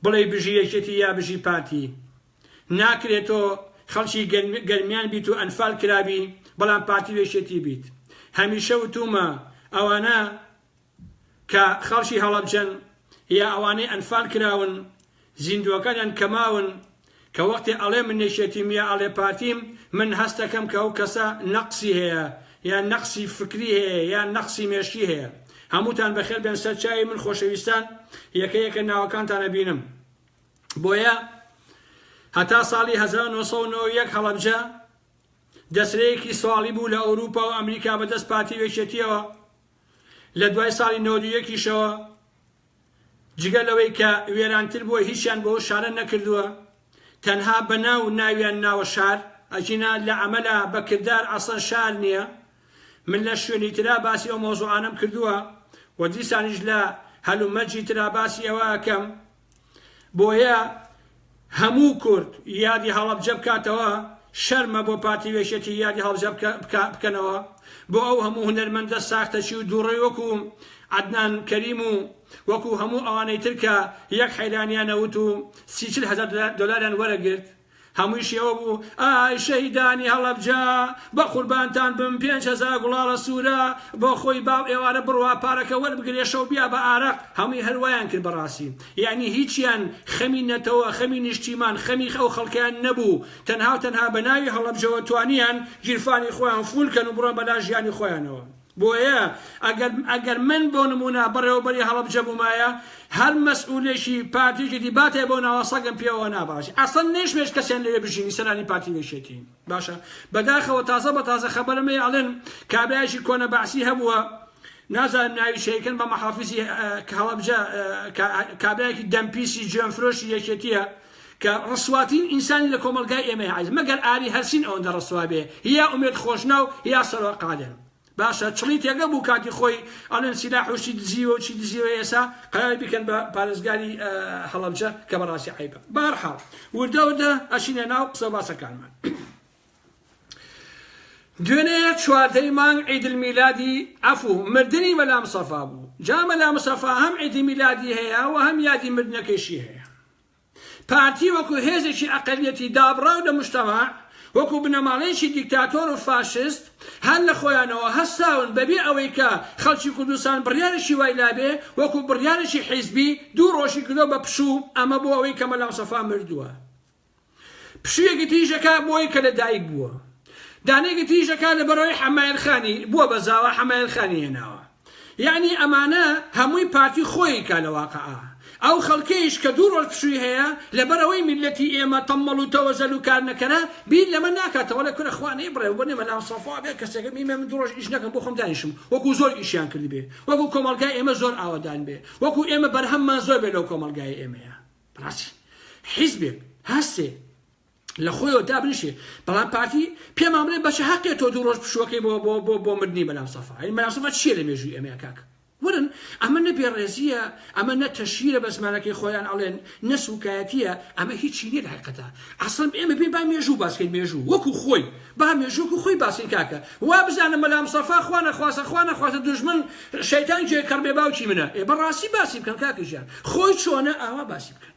بڵێی بژی یەکێتی یا بژی پارتی ناکرێ تۆ خەڵکی گەرمیان بیت و ئەنفال کرابی بەڵام پارتی و یەکێتی بیت هەمیشە وتومە ئەوانە کە خەڵکی هەڵەبجەن یا ئەوانەی ئەنفال کراون زیندوەکانیان کە ماون کە وەختێ ئەڵێ من یەکێتیم یا ئەڵێ پارتیم من هەستەکەم کە ئەو کەسە نەقسی هەیە یا نەقسی فکری هەیە یا نەقسی مێشکی هەیە هەمووتان بەخێر بێن سەر چاوی من خۆشەویستان یەکە یەکە ناوەکانتان ئەبینم بۆیە هەتا ساڵی 1991 هەڵەبجە دەسرەیەکی سواڵی بوو لە ئەوروپا و ئەمریکا بەدەست پارتی وێکێتیەوە لە دوای ساڵی 91 یشەوە جگە لەوەی کە وێرانتر بووە هیچیان بەو شارە نەکردووە تەنها بە ناو ناویان ناوە شار ئەگینا لە ئەمەلا بە کردار ئەسڵەن شار نیە من لە شوێنی ترا باسی ئەو مەوزوعانەم کردووە و دیسانیش لە هەلومەرجی ترا باسی ئەوە ئەکەم بۆیە هەموو کورد یادی هەڵەبجە بکاتەوە شەرمە بۆ پارتی وێشێتی یادی هەڵبجە بکەنەوە بۆ ئەو هەموو هونەرمەندە ساختەچی و دوڕەی وەکو عەدنان کەریم و وەکو هەموو ئەوانەی تر کە یەک حەیرانیان نەوت و سی چل هەزار دۆلاریان وەرەگرت هەموویشی ئەوە بوو ئای شەهیدانی هەڵەبجە بە قوربانتان بم پێنج هەزار گوڵاڵە سوورە بۆ خۆی باو ئێوارە بڕوا پارەکە وەربگرێ شەو بیا بە ئارەق هەمووی هەر وایان کرد بەڕاستی یەعنی هیچیان خەمی نەتەوە، خەمی نیشتیمان، خەمی ئەو خەڵکەیان نەبوو، تەنها و تەنها بە ناوی هەڵەبجەوە توانیان گیرفانی خۆیان فوول کەن و بڕۆن بە لا ژیانی خۆیانەوە. بۆیە ئەگەر ئەگەر من بۆ نموونە بەڕێوەبەری هەڵەبجە بوومایە، هەر مەسئوولێکی پارتییەکی دی باتایە بەو ناوە سەگم پێوە نابڕایت. ئەسڵەن نەیشمەوێت کەسیان لەوێ بژینی سەرانی پارتی و یەکێتی. باشە بەداخەوە تازە بە تازە خەبەرم هەیە ئەڵێن کابرایشی کۆنە بەعسی هەبووە نازانم ناوی شەیکن بە مەحافیزی هەڵەبجە کابراایکی دەمپیسی جوێنفرۆشی یەکێتیە کە ڕسواتین ئینسانی لە کۆمەلگای ئێمە عیز مەگەر ئاری هەرسین ئەوەندە ڕسوا بێ یا ئومێد خۆشناو یا سەرۆ قادر باشە چڵی تێگە بوو کاتی خۆی ئەڵێن سیلاح و شتی دزیوە و چی دزیوە ئێسا قەراری بکەن بە پارێزگاری هەڵەبجە کە بەڕاستی عیبە بارحاڵ وردە وردە ئەشینە ناو قسە باسەکانمان دوێنێ چواردەی مانگ عیدل میلادی ئەفو مردنی مەلا مسەفا بوو جا مەلا مسەفا هەم عیدی میلادی هەیە و هەم یادی مردنەکەشی هەیە پارتی وەکو هێزێکی ئەقەلیەتی دابڕاو لە موجتەمەع، وەکو بنەماڵەیەکی دیکتاتۆر و فاشست، هەر لە خۆیانەوە هەستاون بەبێ ئەوەی کە خەڵکی کوردستان بڕیارێکی وای لابێ، وەکو بڕیارێکی حیزبی دوو ڕۆژی کردوە بە پشوو، ئەمە بۆ ئەوەی کە مەلا مستەفا مردوە پشویەکی تریش دەکا بۆی کە لە دایک بووە، دانەیەکی تریش دەکا لەبەرئەوەی حەمایل خانی بووە بە زاوا حەمایل خانی هێناوە. یەعنی ئەمانە هەمووی پارتی خۆی کا لە واقعا ئەو خەڵکەیش کە دوو ڕۆژ پشووی هەیە لەبەر ئەوەی میللەتی ئێمە تەمەڵ و تەوەزەل و کارنەکەرە بیر لەمە ناکات وەلێ کورە خوا نەیبڕێ وەبەر نێ مەلام سەفا بێ کەسێکە بی من دوو ڕۆژ ئیش نەکەم بۆ خۆم دانیشم وەکو زۆر ئیشیان کردبێ وەکو کۆمەڵگای ئێمە زۆر ئاوەدان بێ وەکو ئێمە بەرهەممان زۆر بێ لەو کۆمەڵگای ئێمەیە بەڕاستی حیزبێک هەستێ لە خۆیەوە دابنیشێ بەڵام پارتی پێمان بڵێ بەچ هەقێ تۆ دوو ڕۆژ پشووەکەی بۆ بۆ بۆ بۆ مردنی مەلا سەفا ئەی مەلا سەفا چییە لە مێژووی ئێمەیە کاک ورن ئەمە نە بێڕێزییە ئەمە نە تەشیرە بە زمانەکەی خۆیان ئەڵێن نە سوکایەتیە ئەمە هیچی نیە لە حقیقەتە ئەسڵم ئێمە بێ با مێژوو باسکەین مێژوو وەکو خۆی با مێژووک و خۆی باسین کاکە وا بزانە مەلا مسەفا خوا نەخواسە خوا نەخواسە دوژمن شەیتان جێ کەڕ بێ باوکی منە ئێ بەڕاستی باسی بکەن کاکە ژیان خۆی چۆنە ئاوا باسی بکەن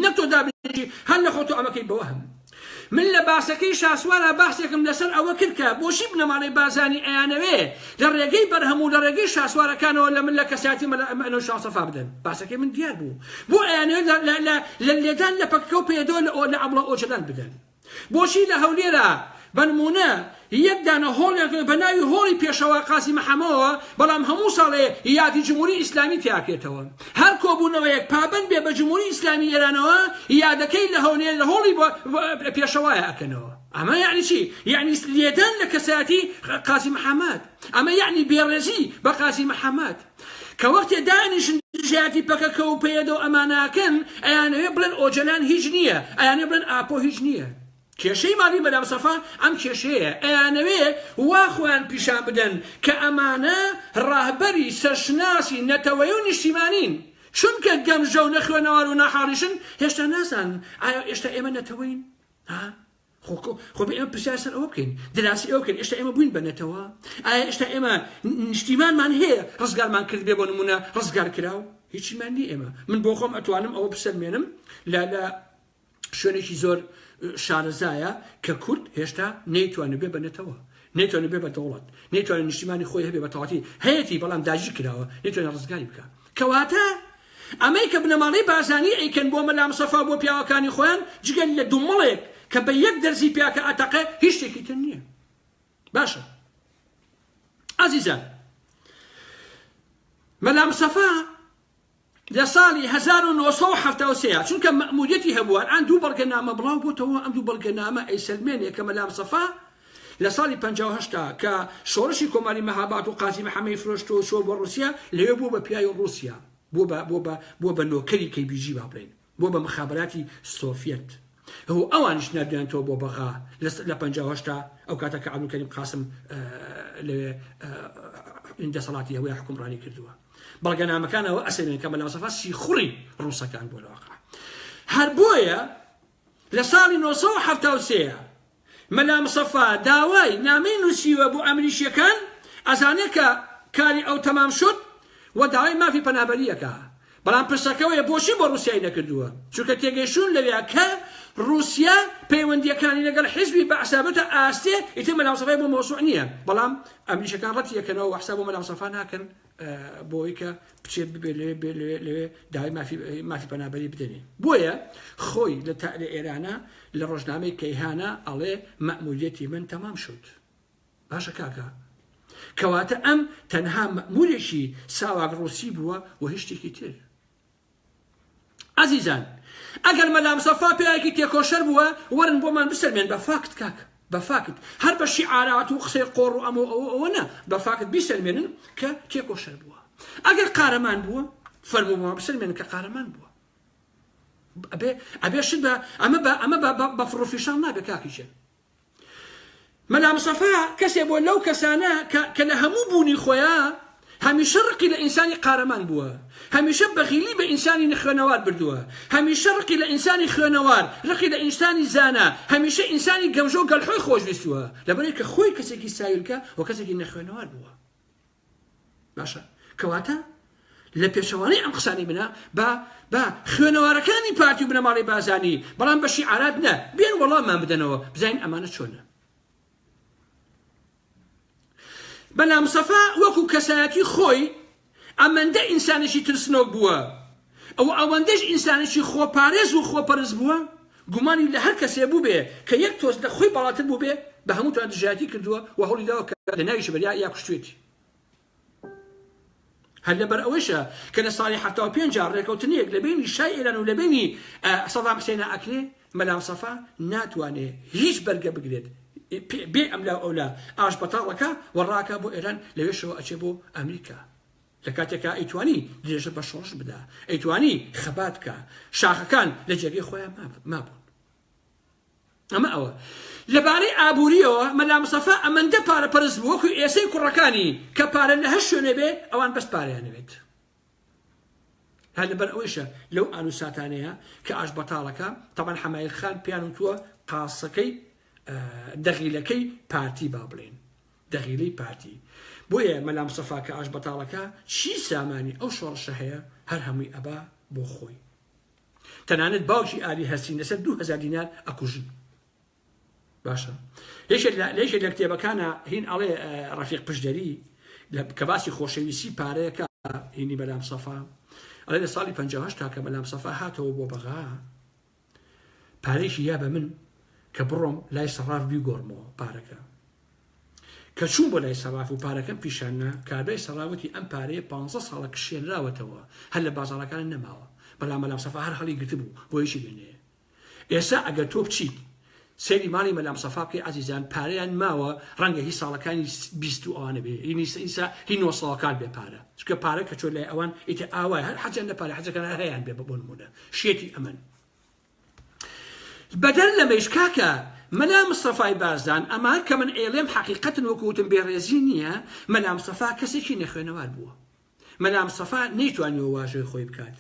نە تۆ دابنیشی هەر نە خۆ تۆ ئەمەکەی بەوەهم من لە باسەکەی شاسوارا بەحسێکم لەسەر ئەوە کرد کە بۆچی بنەماڵەی بارزانی ئەیانەوێ لە ڕێگەی بەرهەم و لە ڕێگەی شاسوارەکانەوە لە من لە کەسایەتی مەلا ئەمە ئەنۆ شاڵ سەفا بدەن باسەکەی من دیار بوو بۆ ئەیانەوێ لە لە لە لە لێدان لە پەکەکە و پەیەدەوە لە ئۆ لە ئەبڵە ئۆجەلان بدەن بۆچی لە هەولێرا بەنموونە یەک دانە هۆڵێک نەبێت بە ناوی هۆڵی پێشەوا قازی محەمەوە بەڵام هەموو ساڵێ یادی جمهوری ئیسلامی تیاکرێتەوە هەر کۆبوونەوەیەک پابەند بێ بە جمهوری ئیسلامی ئێرانەوە یادەکەی لە هەولێر لە هۆڵی پێشەوایە ئەکەنەوە ئەمە یعنی چی یعنی لێدان لە کەسایەتی قازی محەمەد ئەمە یعنی بێڕێزی بە قازی محەمەد کە وەختێ دانیشن دژایەتی پەکەکە و پەیەدە و ئەماناکەن ئەیانەوێ بڵێن ئۆجەلان هیچ نییە ئەیانێ بڵێن ئاپۆ هیچ نییە کێشەی ماڵی مەدام سەفا ئەم کێشەیە ئەیانەوێ وا خۆیان پیشان بدەن کە ئەمانە ڕاهبەری سەرشناسی نەتەوەی و نیشتیمانین چونکە گەمژە و نەخوێنەوار و ناحاڵیشن هێشتا نازانن ئایا ئێشتا ئێمە نەتەوەین ها خۆ خۆ ئێمە پرسیار سەر ئەوە بکەین دراسی ئەوە بکەین ئێستا ئێمە بووین بە نەتەوە ئایا ئێستا ئێمە نیشتیمانمان هەیە ڕزگارمان کرد بێ بۆ نمونە ڕزگار کراو هیچیمان نیە ئێمە من بۆ خۆم ئەتوانم ئەوە بسەلمێنم لە لە شوێنێکی زۆر شارەزایە کە کورد هێشتا نەیتوانێت بێ بە نەتەوە نەیتوانی بێ بە دەوڵەت نەیتوانی نیشتیمانی خۆی هەبێ بە تەواتی هەیەتی بەڵام داگیر کراوە نەیتوانی ڕزگاری بکە کەواتە ئەمەی کە بنەماڵەی بارزانی ئەیکەن بۆ مەلا مستەفا و بۆ پیاوەکانی خۆیان جگە لە دومڵێک کە بە یەک دەرزی پیاکە ئەتەقێ هیچ شتێکی تر نییە باشە ئازیزان مەلا مستەفا لە ساڵی هەزار و نۆ سەد و حەفتا و سێ چونکە مەئموریەتی هەبوو ئەلئان دوو بەڵگەنامە بڵاو بۆتەوە ئەم دوو بەڵگەنامە ئەیسەلمێنێ کە مەلامسەفا لە ساڵی پەنجا و هەشت کە شۆڕشی کۆماری مەهاباد و قازی محەمەی فرۆشتوە و چوە بۆ ڕوسیا لەوێ بوە بە پیاوی ڕوسیا بوە بە بوە بە بوە بە نۆکەری کەی بی جی با بڵێین بۆ بە مخابراتی سۆفیەت هو ئەوانیش نردویانتەوە بۆ بەغا لە پەنجا و هەشتا ئەو کاتە کە عەبدولکەریم قاسم لەوێ دەسەڵاتی هەوەی حکومڕانی کردووە بەڵگەنامەکان ئەوە ئەسێنن کە مەلاسەفا سیخوڕی ڕووسەکان بۆ لەواقع هەر بۆیە لە ساڵی 1970 مەلا مصەفا داوای نامەی نوسیوە بۆ ئەمریشیەکان ئەزانێ کە کاری ئەو تەمام شود وە داوای مافی پەنابەری ئەکا بەڵام پرسەکە وەیە بۆچی بۆ روسیای نەکردوە چونکە تێگەیشتون لەویا کە روسیا پەیوەندیەکانی لەگەڵ حیزبی بەعسا بردە ئاستێ ئیتر مەلا مصەفای بۆ مەوسوع نیە بەڵام ئەمریشەکان رەتی ئەکەنەوە وە حساب بۆ مەلا مصەفا ناکەن بۆی کە بچێت ببێ لەوێ بێ لەوێ لەوێ داوای مافی مافی پەنابەری بدەنێ بۆیە خۆی لە تا لە ئێرانە لە ڕۆژنامەی کەیهانە ئەڵێ مەموریەتی من تەمام شد باشە کاکە کەواتە ئەم تەنها مەمورێکی ساواک ڕوسی بووە و هیچ شتێکی تر ئەزیزان ئەگەر مەلا مسەفا پیاوێکی تێکۆشەر بووە وەرن بۆمان بسەلمێن بە فاکت کاکە بە فاکت هەر بە شیعارات و قسەی قۆڕ و ئەمە ئەوە ئەوە نا بە فاکت بیسەلمێنن کە تێکۆشەر بووە ئەگەر قارەمان بووە فەرموو بۆمان بسەلمێنن کە قارەمان بووە ئەبێ ئەبێ شت بە ئەمە بە ئەمە بە بە فڕۆفیشان نابێ کاکیشێن مەلا مستەفا کەسێ بووە لەو کەسانە کە کە لە هەموو بوونی خۆیا هەمیشە ڕقی لە ئینسانی قارەمان بووە، هەمیشە بەغیلی بە ئینسانی نەخوێنەوار بردووە، هەمیشە ڕقی لە ئینسانی خوێنەوار، ڕقی لە ئینسانی زانا، هەمیشە ئینسانی گەمژە و گەلحۆی خۆشویستووە، لەبەرئەوەی کە خۆی کەسێکی ساویلکە و کەسێکی نەخوێنەوار بووە. باشە کەواتە لە پێچەوانەی ئەم قسانی منە با با خوێنەوارەکانی پارتی و بنەماڵی بازانی بەڵام بە شیعارات نە بێن وەڵاممان بدەنەوە بزانین ئەمانە چۆنە بەلام سەفا وەکو کەسایەتی خۆی ئەمەندە ئینسانێکی ترسنۆک بووە ئەوە ئەوەندەش ئینسانێکی خۆپارێز و خۆپەرست بووە، گومانی لە هەر کەسێ بووبێ کە یەک تۆز لە خۆی باڵاتر بووبێ، بە هەمووتان دژایەتی کردووە و هەوڵی داوە کە لە ناویشی بەریا یا کوشتویەتی. هەر لەبەر ئەوەیشە کە لە ساڵی حەفتا و پێنج جا ڕێکەوتنێک لە بەینی شای ئێران و لە بەینی سەدام حسێنا ئەکرێ، مەلا مستەفا ناتوانێ هیچ بەرگە بگرێت، بێ ئەملاو ئەولا ئاشبەتاڵەکە و ڕاکا بۆ ئێران، لەوێشەوە ئەچێ بۆ ئەمریکا. لە کاتێکا ئەیتوانی درێژە بە شۆڕش بدا، ئەیتوانی خەبات بکا، شاخەکان لە جێگەی خۆیان مابوون. ئەمە ئەوە. لە بارەی ئابووریەوە مەلا مستەفا ئەمەندە پارە پەرست بوو وەکو ئێسەی کوڕەکانی کە پارە لە هەر شوێنێ بێ ئەوان بەس پارەیانەوێت. هەر لەبەر ئەوەیشە لەو ئانوساتانەیە کە ئاش بەتاڵەکە تەمان حەمایل خان پیان وتووە قاسەکەی دەغیلەکەی پارتی با بڵێن دەغیلەی پارتی بۆیە مەلا مستەفا کە ئاشبەتاڵەکە چی سامانی ئەو شۆڕشە هەیە هەر هەمووی ئەبا بۆ خۆی تەنانەت باوکی ئالی هەسین لەسەر دوو هەزار دینار ئەکوژی باشە یەکێک لە یەکێک لە کتێبەکانە هین ئەڵێ ڕەفیق پشدەری کە باسی خۆشەویستی پارەیەکە هینی بەلام سەفا ئەڵێ لە ساڵی 58 تاکە بەلام سەفا هاتەوە بۆ بەغا پارەیشی یا بە من کە بڕۆم لای سەڕاف بیگۆڕمەوە پارەکە کە چووم بۆ لای سەڕاف و پارەکەم پیشاننا کابرای سەڕاوتی ئەم پارەیە پ ساڵە کشێنراوەتەوە هەر لە بازاڕەکان نەماوە بەڵام مەلام سەفا هەر هەڵی گرتبوو بۆیشی بێنێ ئێسا ئەگەر تۆ بچیت سەیری ماڵی مەلام سەفا بکەی ئازیزان پارەیان ماوە ڕەنگە هی ساڵەکانی بیست و ئەوانە بێ هی نیسە ئیسا هی نۆ ساڵەکان بێ پارە چونکە پارە کە چۆ لای ئەوان ئیتر ئاوای هەر حەجیان لە پارە حەجەکان هەر هەیان بێ بە بۆ نموونە شێتی ئەمن بەدەر لەمەیش کاکە مەلا مستەفای بارزان ئەمە کە من ئێڵێم حەقیقەتن وەکو وتم بێڕێزی نییە مەلا مستەفا کەسێکی نەخوێنەوار بووە مەلا مستەفا نەیتوانیوە واژۆی خۆی بکات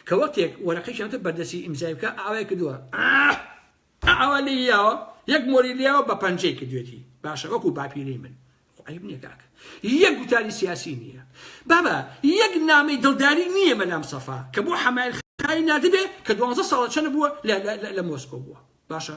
کە وەختێک وەرەقەی کەمتر بەردەستی ئیمزای بکا ئاوای کردووە ئااااا ئاوا لێی یاوە یەک مۆری لیاوە بە پەنجەی کردوێتی باشە وەکو باپیرەی من عیب نییە کاکە یەک گوتاری سیاسی نییە بابە یەک نامەی دڵداری نییە مەلا مستەفا کە بۆ حەمایل خای نادبێ کە دوانزە ساڵە چەنە بووە لە مۆسکۆ بووە باشە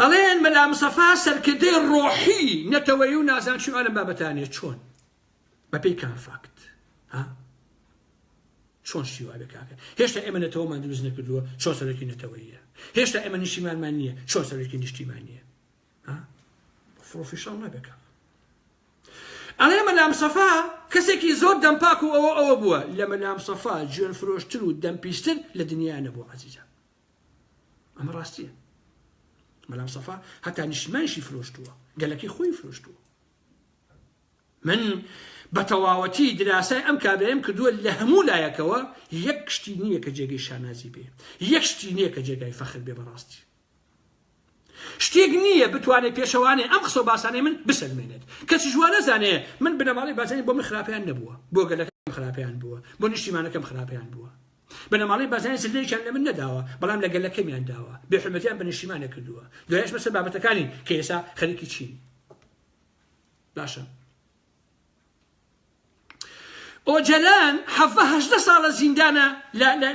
ئەڵێن مەلا مسەفا سەرکردەی ڕۆحی نەتەوەی و نازان چی ئەلم بابەتانێ چۆن بەپی کام فاکت ها چۆن شیوا بکاکە هێشتا ئێمە نەتەوەمان دروست نەکردووە چۆ سەرەکی نەتەوەیە هێشتا ئێمە نیشتیمانمان نییە چۆ سەرەکی نیشتیمان نییە فڕۆفیشان نەبێکە ئەڵێ مەلام سەفا کەسێکی زۆر دەمپاک و ئەوە ئەوە بووە لە مەلام سەفا جوێن فرۆشتر و دەمپیستر لە دنیا نەبوو عزیزە ئەمە ڕاستیە بەلام سەفا هەتا نیشتمانشی فرۆشتووە گەلەکەی خۆی فرۆشتووە من بە تەواوەتی دراسای ئەم کابێم کردووە لە هەموو لایەکەوە یەک شتی نییە کە جێگەی شانازی بێ یەک شتی نییە کە جێگای فەخر بێ بەڕاستی شتێک نییە بتوانێت پێشەوانێ ئەم قسە باسانەی من بسەلمێنێت کەسی جوان نەزانێ من بنەماڵی بازنی بۆ من خراپیان نەبووە بۆ گەلەکەم خراپیان بووە بۆ نیشتیمانەکەم خراپیان بووە بنەماڵەی بارزانی زللەیەکیان لە من نەداوە، بەڵام لە گەلەکەمیان داوە، بێ حورمەتیان بە نیشتیمانێ کردووە. دوایەش بەسەر بابەتەکانین کە ئێستا خەریکی چین. باشە. ئۆجەلان حەڤە هەژدە ساڵە زیندانە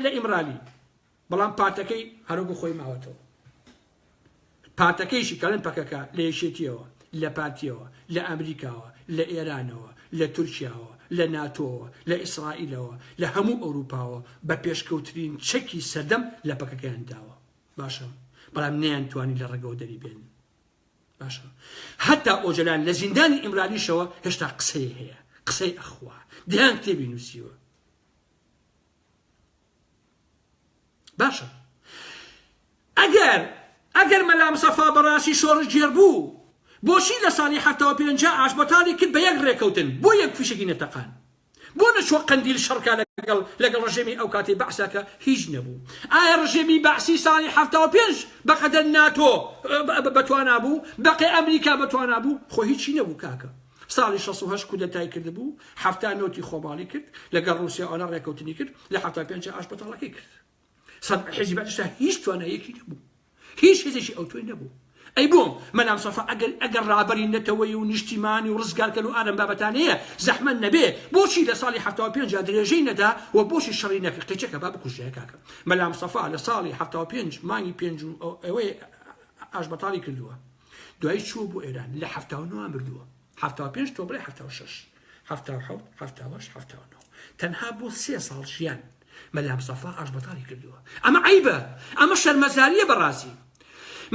لە ئیمرالی، بەڵام پارتەکەی هەر وەکو خۆی ماوەتەوە. پارتەکەیشی کە ئەڵێن پەکەکە، لە یەکێتییەوە، لە پارتییەوە، لە ئەمریکاوە، لە ئێرانەوە، لە تورکیاوە، لە ناتۆوە، لە ئیسرائیلەوە، لە هەموو ئەوروپاوە بە پێشکەوترین چەکی سەردەم لە پەکەکەیان داوە. باشە. بەڵام نەیانتوانی لە ڕەگەوە دەریبێنن. باشە. هەتا ئۆجەلان لە زیندانی ئیمرالیشەوە هێشتا قسەی هەیە. قسەی ئەخوا. دەیان کتێبی نووسیوە. باشە ئەگەر ئەگەر مەلا مسەفا بەڕاستی شۆڕش گێر بوو بۆچی لە ساڵی حەفتا و پێنجا ئاشبەتاڵی کرد بە یەک ڕێکەوتن بۆ یەک فیشەکی نەتەقان بۆ نەچوە قەندیل شەڕکە لەگەڵ لەگەڵ ڕژێمی ئەو کاتی بەعسا کە هیچ نەبوو ئایا ڕژێمی بەعسی ساڵی حەفتا و پێنج بەقەدەر ناتۆ بەتوانا بوو بەقێ ئەمریکا بەتوانا بوو خۆ هیچی نەبوو کاکە ساڵی شەست و هەشت کودەتای کردبوو، حەفتا نۆتی خۆماڵی کرد، لەگەڵ ڕووسیا و عێراق ڕێککەوتنی کرد، لە حەفتا پێنج جا ئاشبەتاڵەکەی کرد. سەد حیزبی بەعسیشدا هیچ تواناییەکی نەبوو. هیچ هێزێکی ئەوتۆی نەبوو. ئەی بۆ مەلام سەفا ئەگەر ئەگەر ڕابەری نەتەوەیی و نیشتیمانی و ڕزگارکەر و ئارەم بابەتانەیە زەحمەت نەبێ بۆچی لە ساڵی حەفتا و پێنج جا درێژەی نەدا و بۆچی شەڕی نەکرد قیچەکە با بکوژرایە کاکە مەلام سەفا لە ساڵی حەفتا و پێنج مانگی پێنج و ئەوەی ئاشبەتاڵی کردووە. دوایی چووە بۆ ئێران لە حەفتا و نۆ مردووە حەفتا و پێنج تۆ بڵێ حەفتا و شەش حەفتا و حەوت حەفتا و هەشت حەفتا و نۆ تەنها بۆ سێ ساڵ ژیان مەلا مسەفا ئاشبەتاڵی کردووە ئەمە عەیبە ئەمە شەرمەزارییە بەڕاستی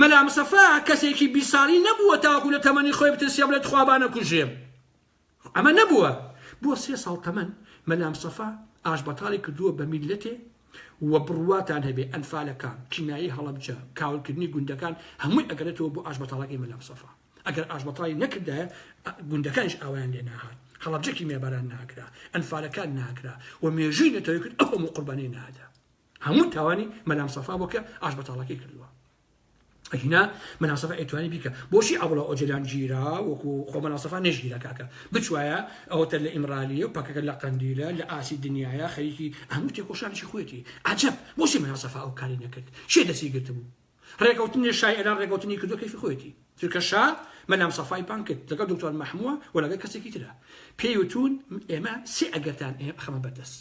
مەلا مسەفا کەسێکی بیست ساڵی نەبووە تاوەکو لە تەمەنی خۆی بترسێ بڵێ تخوا با نەکوژرێم ئەمە نەبووە بۆ سێ ساڵ تەمەن مەلامستەفا ئاشبەتاڵی کردووە بە میللەتێ و بڕواتان هەبێ ئەنفالەکان چینایی هەڵەبجە کاولکردنی گوندەکان هەمووی ئەگەرێتەوە بۆ ئاشبەتاڵەکەی مەلامستەفا ئەگەر ئاشبەتاڵی نەکردایە گوندەکانیش ئاوایان لێ ناهات هەڵەبجە کیمیاباران ناکرا ئەنفالەکان ناکرا و مێژووی نەتەوەی کورد ئەو هەموو قوربانیەی نادا هەموو تاوانی مەلامستەفا بۆ کە ئاشبەتاڵەکەی کردووە ئەگینا مەلا سەفا ئەیتوانی بیکا بۆچی عەبڵا ئۆجەلان گیرا وەکو خۆ مەلا سەفا نەشگیرا کاکە بچوایە ئەوەتە لە ئیمرالیە و پەکەکە لە قەندیلە لە ئاسی دنیاە خەریکی هەموو تێکۆشانێکی خۆێتی عەجەب بۆچی مەلا سەفا ئەو کاری نەکرد چێ دەسی گرتبوو ڕێکەوتنی شای ئێران ڕێکەوتنی کردو کەیفی خۆێتی چونکە شا مەلام سەفای پان کرد لەگەڵ دکتۆر مەحمووە و لەگەڵ کەسێکی ترە پێی وتون ئێمە سێ ئەگەرتان ئێ خەمە بەردەست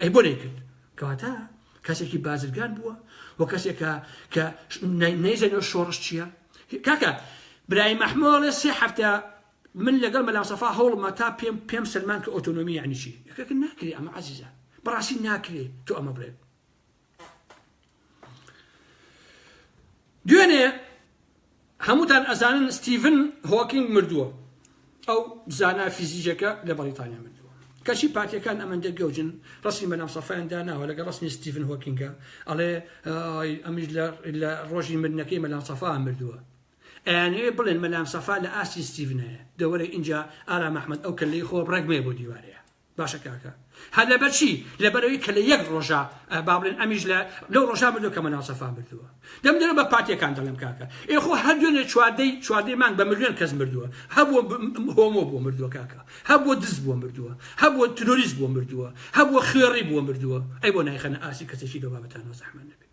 ئەی بۆ نەیکرد کەواتە کەسێکی بازرگان بووە و کەسێکە کە نەیزەنەوە شۆڕش چییە کاکە برای مەحمۆڵێ سێ هەفتە من لەگەڵ مەلاسەفا هەوڵمە تا پێم پێم سلمان کە ئۆتۆنۆمی یعنی چی یەکەکە ناکرێ ئەمە عزیزە بەڕاستی ناکرێ تۆ ئەمە بڵێت دوێنێ هەمووتان ئەزانن ستیڤن هۆکینگ مردووە ئەو زانا فیزیکەکە لە بەڵیتانیا مردووە کەچی پارتیەکان ئەمەندە گەوجن ڕسمی بەنام سەفاان داناوە لەگە ڕسمی ستیڤن هۆکینگە ئەڵێ ئەمیش لە ڕۆژی مردنەکەی مەلام سەفا مردووە ئەیانەیە بڵێن مەلام سەفا لە ئاستی ستیڤنەیە دەوەرە اینجا ئارا مححمد ئەو کە لی خۆ ڕێگمێ بۆ دیوارەیە باشە کاکە هەر لەبەر چی لەبەرەوەی کە لە یەک ڕۆژە با بڵێن ئەمیش لە لەو ڕۆژا بردو کە مناڵ سەفا مردووە دەم دەرە بە پارتیەکان دەڵێم کاکە ئێخۆ هەر دوێنێ چواردەی چواردەی مانگ بە ملیۆن کەس مردووە هەبوو هۆمۆ بۆ مردووە کاکە هەبوو دز بۆ مردووە هەبوو تروریست بۆ مردووە هەبوو خوێڕی بۆ مردووە ئەی بۆ نایخەنە ئاسی کەسێکی دەبابەتان و زەحمە نەبێت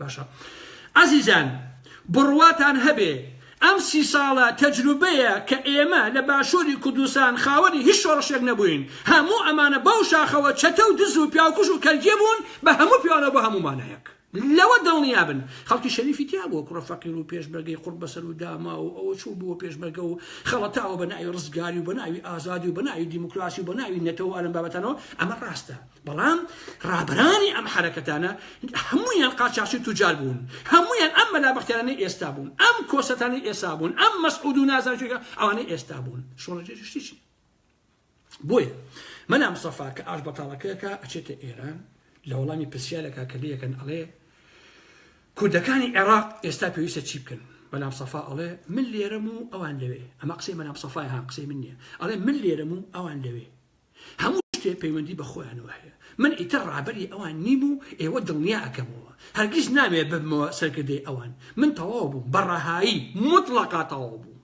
باشە ئازیزان بڕواتان هەبێ ئەم سی ساڵە تەجروبەیە کە ئێمە لە باشوری کوردستان خاوەنی هیچ شۆڕشێک نەبووین هەموو ئەمانە بەو شاخەوە چەتە و دز و پیاوکوژ و کەرجێ بوون بە هەموو پێوانەوە بۆ هەموو مانایەک لەوە دڵنیا بن خەڵکی شەریفی تیا بووە کوڕە فەقیر و پێشمەرگەی قوڕ بەسەر و داما و ئەوە چوو بووە پێشمەرگە و خەڵەتاوە بە ناوی ڕزگاری و بە ناوی ئازادی و بە ناوی دیموکراسی و بە ناوی نەتەوە ئەلەم بابەتانەوە ئەمە ڕاستە بەڵام ڕابەرانی ئەم حەرەکەتانە هەموویان قاچاخچی توجار بوون هەموویان ئەم مەلا بەختیارانەی ئێستا بوون ئەم کۆسەتانی ئێستا بوون ئەم مەسعود و نازانجێگە ئەوانەی ئێستا بوون شۆڕجێشتیی بۆیە مەلا مسەفا کە ئاش بەتاڵەکەکە ئەچێتە ئێران لە وەڵامی پرسیارەکە کە لەکەن ئەڵێ کوردەکانی عێراق ئێستا پێویستە چی بکەن بەلام سەفا ئەڵێ من لێرەم و ئەوان لەوێ ئەمە قسەی مەلام سەفای هاان قسەی من نیە ئەڵێ من لێرەم و ئەوان لەوێ هەموو شتێ پەیوەندی بە خۆیانەوە هەیە، من ئیتر ڕابەری ئەوان نیم و ئێوە دڵنیا ئەکەمەوە، هەرگیز نامەوێ ببمەوە سەرکردەی ئەوان، من تەواو بووم، بە ڕەهایی موتڵەقا تەواو بووم،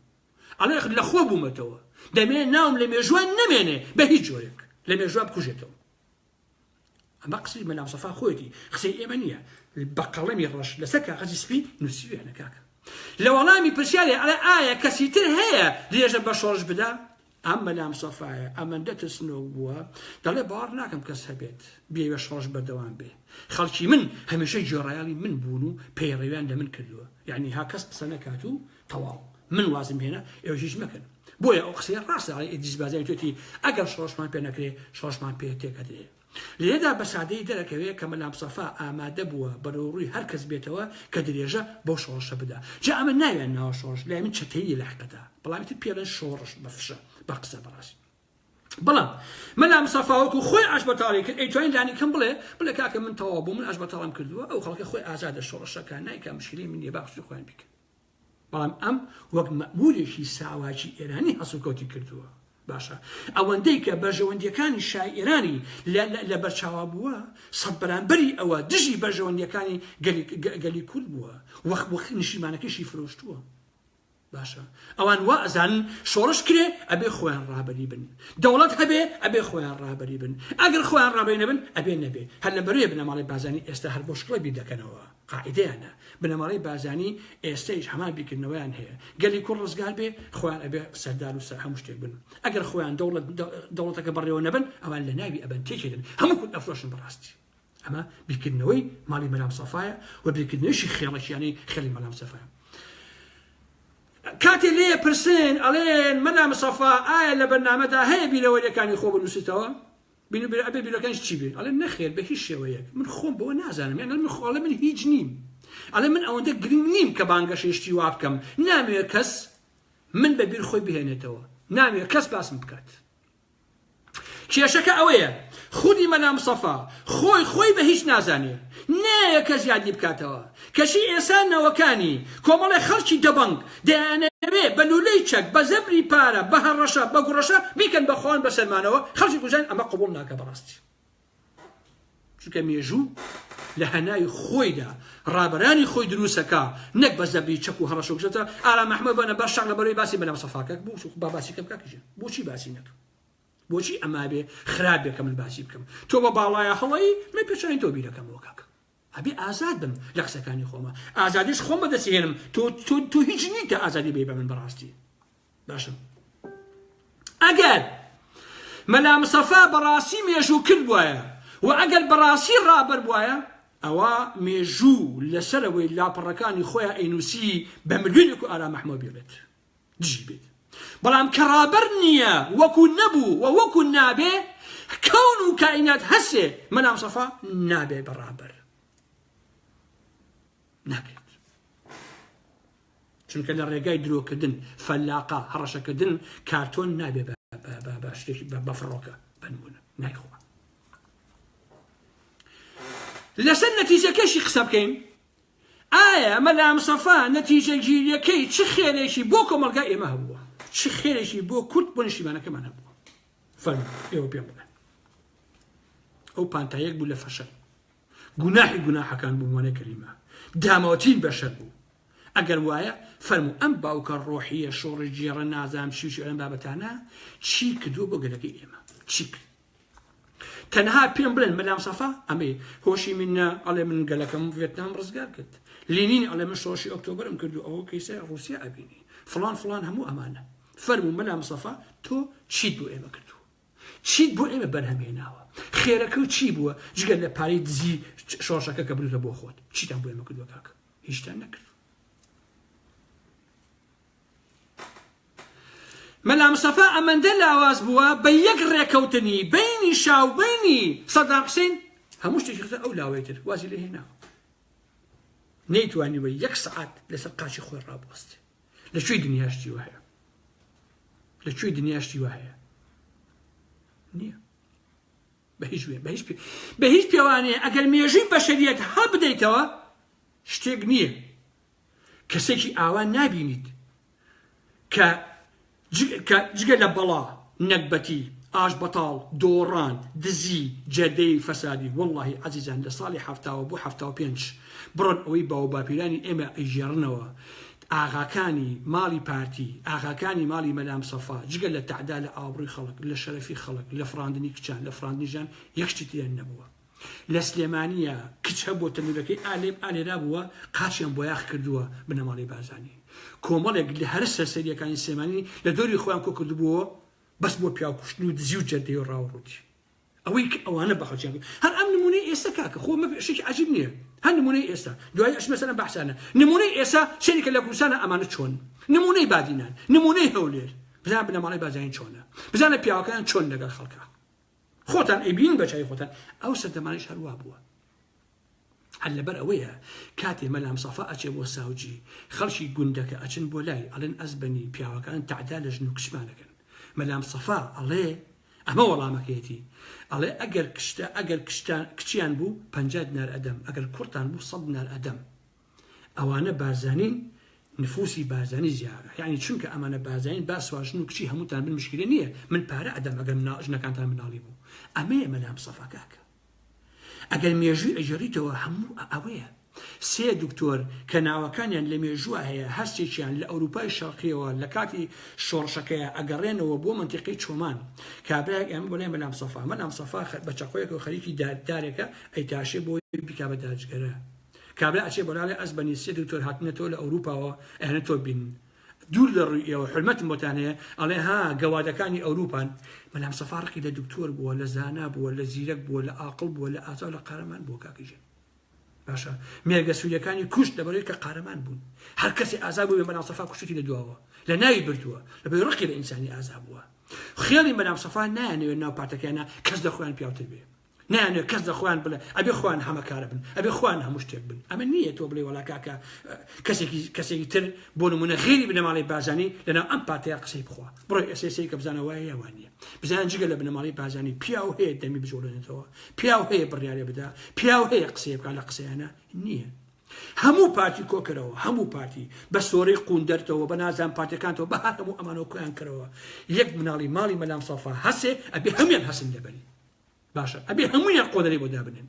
ئەڵێ لە خۆ بوومەتەوە، دەمەوێ ناوم لە مێژووان نەمێنێ بە هیچ جۆرێک، لە مێژووا بکوژێتەوە. ئەمە قسەی مەلا مستەفا خۆیەتی قسەی ئێمە نییە بە قەڵەمی ڕەش لەسەر کاغەزی سپی نووسیویانە کاکە لە وەڵامی پرسیاری ئەڵێ ئایا کەسی تر هەیە درێژە بە شۆڕش بدا ئەم مەلام سەفاایە ئەمەندە ترسنۆک بووە دەڵێ باوەڕ ناکەم کەس هەبێت بێوێ شۆڕش بەردەوام بێ خەڵکی من هەمیشە جۆڕایاڵی من بوون و پەیڕەویان لە من کردووە یعنی ها کەس قسە نەکات و تەواو من وازم هێنا ئێوەش هیچ مەکەن بۆیە ئەو قسەیە ڕاستە ئەڵێ ئیدریس بازاری توێتی ئەگەر شۆڕشمان پێ نەکرێ شۆڕشمان پێ تێکەدرێ لێدا بە سادەی دەرەکەوێ کە مەلام سەفا ئامادە بووە بەرەو ڕووی هەر کەس بێتەوە کە درێژە بەو شۆڕشە بدا جا ئەمە ناویان ناوە شۆڕش لای من چەتەیی لە حقیقەتە بەڵام ئیتر پێڵێن شۆڕش بە فشە بە قسە بەڕاست بەڵام مەلام سەفاوەکو خۆی ئاش بەتاڵی کرد ئەیتوانین لانی کەم بڵێ بڵێ کاکە من تەواو بوو من ئاش بەتاڵم کردووە ئەو خەڵکە خۆی ئازادە شۆڕشەکان نایکە مشکلی من نیە باخشی خۆیان بیکەن بەڵام ئەم وەک مەئموورێکی ساواکی ئێرانی هەڵسوکەوتی کردووە. باشە ئەوەندەی کە بەرژەوەندیەکانی شای ئێرانی لە بەرچاوا بووە سەد بەرامبەری ئەوە دژی بەرژەوەندیەکانی گەلی کورد بووە وەخ وەخ نیشیمانەکەشی فرۆشتووە باشە ئەوان وا ئەزان شۆڕش کرێ ئەبێ خۆیان ڕابەری بن دەوڵەت هەبێ ئەبێ خۆیان ڕابەری بن ئەگەر خۆیان ڕابەری نەبن ئەبێ نەبێ هەر لە بەرێ بنەماڵی بازانی ئێستا هەر بۆ شکڵە بیر دەکەنەوە قاعیدەیانە بنەماڵەی بارزانی ئێستەیش هەمان بیرکردنەوەیان هەیە گەلی کورد ڕزگار بێ خۆیان ئەبێ سەردار و سەر هەموو شتێک بن ئەگەر خۆیان دەوڵەت دەوڵەتەکە بەڕێوە نەبن ئەوان لە ناوی ئەبەن تێکێدن هەموو کورد ئەفرۆشن بەڕاستی ئەمە بیرکردنەوەی ماڵی مەلام سەفایە و بیرکردنەوەیشی خێڵەکیانی خێڵی مەلام سەفایە کاتێ لێ پرسن ئەڵێن مەلام سەفا ئایا لە بەرنامەدا هەیە بیرەوەریەکانی خۆ بنووسیتەوە بینو بیرو ئەبێ بیرۆکانیش چی بێ ئەڵێ نەخێر بە هیچ شێوەیەک من خۆم بەوە نازانم یان ئەڵێ من خۆ ئەڵێ من هیچ نیم ئەڵێ من ئەوەندە گرنگ نیم کە بانگەشەی شتی وا بکەم نامەوێ کەس من بە بیر خۆی بهێنێتەوە نامەوێ کەس باسم بکات کێشەکە ئەوەیە خودی مەلا مسەفا خۆی خۆی بە هیچ نازانێ نایە کەس یادی بکاتەوە کەچی ئێستا نەوەکانی کۆمەڵێ خەڵکی دەبەنگ دەیانەوێ بە لوولەی چەک، بە زەبری پارە، بە هەڕەشە، بە گوڕەشە بیکەن بە خۆیان بە سەرمانەوە، خەڵکی کوژاین ئەمە قبوڵ ناکا بەڕاستی. چونکە مێژوو لە هەناوی خۆیدا ڕابەرانی خۆی درووستەکا نەک بە زەبری چەک و هەڕەشە و گژەتە، ئارام ئەحمەد بەنە بەر شەق لەبەرەوەی باسی مەلا مستەفا کەک بوو با باسی کەم کاک ژیر بۆچی باسی نەکەم بۆچی ئەمابێ خراپ بێ کە من باسی بکەم تۆ بە باڵایە هەڵەی من پێچانی تۆ بیرەکەمەوە کاکە. ئەبێ ئازاد بم لە قسەکانی خۆما ئازادیش خۆم بەدەستی هێنم تۆ تۆ تۆ هیچ نیت کە ئازادی بێ بە من بەڕاستی باشم ئەگەر مەلا مسەفا بەڕاستی مێژوو کرد بواە و ئەگەر بەڕاستی ڕابەر بواە ئەوە مێژوو لەسەرەوەی لاپەڕەکانی خۆیان ئەینوسی بە ملیۆنێک و ئارا مەحمەوە بێڵێت دژی بێت بەڵام کە ڕابەر نییە وەکو نەبوو و وەکو نابێ کەون و کائینات هەسێ مەلام سەفا نابێ بە ڕابەر نابێت چونکە لە ڕێگای درۆکردن فەلاقا هەڕەشەکردن کارتۆن نابێ بە فڕۆکە بنمونە نایخۆ لەسەر نەتیجەکەشی قسە بکەین ئایا مەلا مستەفا نەتیجەگیریەکەی چ خێرێکی بۆ کۆمەڵگای ئێمە هەبووە؟ چ خێرێکی بۆ کورد بۆ نیشتیمانەکەمان هەبووە؟ فەرموو ئێوە پێم بڵێن. ئەو پانتایەک بوو لە فەشەل. گوناحی گوناحەکان بوو مۆنە کەریمە. داماوترین بەشەر بوو. ئەگەر وایە فەرموو ئەم باوکە ڕۆحیە شۆڕی گێڕە نازام چی و چی ئەم بابەتانە چی کردووە بۆ گەلەکەی ئێمە؟ چی کرد؟ تەنها پێم بڵێن مەلا مصطفی ئەمەی هۆشی من نە ئەڵێ من گەلەکەم ڤێتنام ڕزگار کرد لینین ئەڵێ من شۆشی ئۆکتۆبرم کرد و ئەوە کەیسە ڕوسیا ئەبینی فلان فلان هەموو ئەمانە فەرمو مەلا مصطفی تۆ چیت بۆ ئێمە کردو چیت بۆ ئێمە بەرهەمێناوە خێرەکە و چی بووە جگە لە پارەی دزی شۆشەکە کە بردە بۆ خۆت چیتان بۆ ئێمە کردوە کاکە هیچتان نەکرد مەلا مستەفا ئەمەندە لاواز بووە بە یەک ڕێکەوتنی بینی شا و بینی سەدام حسین هەموو شتێکی خزە ئەو لاوەی تر وازی لێ هێنا نەیتوانیوە یەک سعات لەسەر قاچی خۆی ڕابوەست لە کوێی دنیاشتی وهەیە لە کوێی دنیاشتی وهەیە نییە بە هیچ وێ بە هیچ بە هیچ پێوانەیە ئەگەر مێژووی بەشریەت هەبدەیتەوە شتێک نییە کەسێکی ئاوا نابینیت کە کە جگە لە بەڵا نەگبەتی ئاش بەتاڵ دۆڕان دزی جەردەی فەسادی وەڵڵاهی عەزیزان لە ساڵی حەفتاوە بۆ حەفتا و پێنج بڕۆن ئەوەی باو باپیرانی ئێمە ئەیگێڕنەوە ئاغاکانی ماڵی پارتی ئاغاکانی ماڵی مەلا مسەفا جگە لە تەعدا لە ئابڕوی خەڵک لە شەرەفی خەڵک لە فڕاندنی کچان لە فڕاندنی ژان یەک شتی تریان نەبووە لە سلێمانیە کچ هەبووە تەنورەکەی ئا لێم ئا لێرا بووە قاچیان بۆیاخ کردووە بنەماڵەی بارزانی کۆمەڵێک لە هەرە سەرسەریەکانی سلێمانی لە دۆری خۆیان کۆ کردبووەوە بەس بۆ پیاو کوشتن و دزی و جەردەی و ڕاوڕووتی ئەوەی کە ئەوانە بە خەڵکیان کرد. هەر ئەم نمونەی ئێستا کاکە خۆ مە شتێکی عەجیب نییە هەر نمونەی ئێستا دوایی ئەچمە سەر ئەم بەحسانە نمونەی ئێستا سەیرکە لە کوردستانە ئەمانە چۆن نمونەی بادینان نمونەی هەولێر بزانە بنەماڵەی بارزانی چۆنە بزانە پیاوەکەیان چۆن لەگەڵ خەڵکە خۆتان ئەیبینن بە چاوی خۆتان ئەو سەردەمانەش هەر وا بووە هەر لەبەر ئەوەیە کاتێ مەلام سەفا ئەچێ بۆ ساوجی خەڵکی گوندەکە ئەچن بۆ لای ئەڵێن ئەزبەنی پیاوەکان تەعدا لە ژن و کچمان ئەکەن مەلام سەفا ئەڵێ ئەمە وەڵامەکەیەتی ئەڵێ ئەگەر کچتان ئەگەر کچتان کچیان بوو پەنجا دینار ئەدەم ئەگەر کوڕتان بوو سەد دینار ئەدەم ئەوانە بارزانین نفوسی بارزانی زیارە یعنی چونکە ئەمانە بارزانین با سواژن و کچی هەمووتان بن مشکلە نییە من پارە ئەدەم ئەگەر منا ژنەکانتان مناڵی بوو ئەمەیە مەلام سەفا کاکە ئەگەر مێژووی ئەجێڕیتەوە هەموو ئەوەیە سێ دکتۆر کە ناوەکانیان لە مێژووە هەیە هەرچێکیان لە ئەوروپای شەرقیەوە لە کاتی شۆڕشەکەیە ئەگەڕێنەوە بۆ منتیقی چۆمان کابراێک ئەم بۆ لای مەلام سەفا مەلام سەفا بە چەقۆیەکەوە خەریکی دارێکە ئەیتاشێ بۆ بیکا بە داجگەرە کابرا ئەچێ بۆلاڵێ ئەز بەنی سێ دکتۆر هاتنە تۆ لە ئەوروپاوە ئەیانە تۆ بین دوور لە ڕووی ئێوە حرمەتم بۆتان هەیە ئەڵێ ها گەوادەکانی ئەوروپان بەلام سەفا ڕقی لە دکتۆر بووە لە زانا بووە لە زیرەک بووە لە ئاقڵ بووە لە ئازا لە قارەمان بووە کاکیژێن باشە مێرگە سووریەکانی کوشت لەبەرەوەی کە قارەمان بوون هەر کەسی ئازا بوو بێ بەلام سەفا کوشتی لە دواوە لە ناوی بردووە لەبەر ڕقی لە ئینسانی ئازا بووە خێڵی بەلام سەفا نایانەوێت ناو پارتەکەیانە کەس لە خۆیان پیاوتر بێ نایانەوێت کەس لە خۆیان بڵێ ئەبێ خۆیان هەمەکارە بن ئەبێ خۆیان هەموو شتێک بن ئەمە نییە تۆ بڵێ وەڵا کاکە کەسێکی کەسێکی تر بۆ نمونە غێری بنەماڵی بازانی لەناو ئەم پارتەیە قسەی بخوا بڕۆ ئێسێسی کە بزانە وایە یاوان نیە بزان جگە لە بنەماڵی بازانی پیا و هەیە دەمی بزۆڵێنێتەوە پیا و هەیە بڕیارێ بدا پیا و هەیە قسەیە بکە لە قسەیانە نییە هەموو پارتی کۆکەرەوە هەموو پارتی بە سۆرەی قون دەرتەوە بە نازان پارتەکانەوە بە هەر هەموو ئەمانەوە کۆیان کەرەوە یەک مناڵی ماڵی مەلام سەفا هەسێ ئەبێ هەمێن هەسن لەبەری باشە ئەبێ هەموویان قۆنەرەی بۆ دابنێن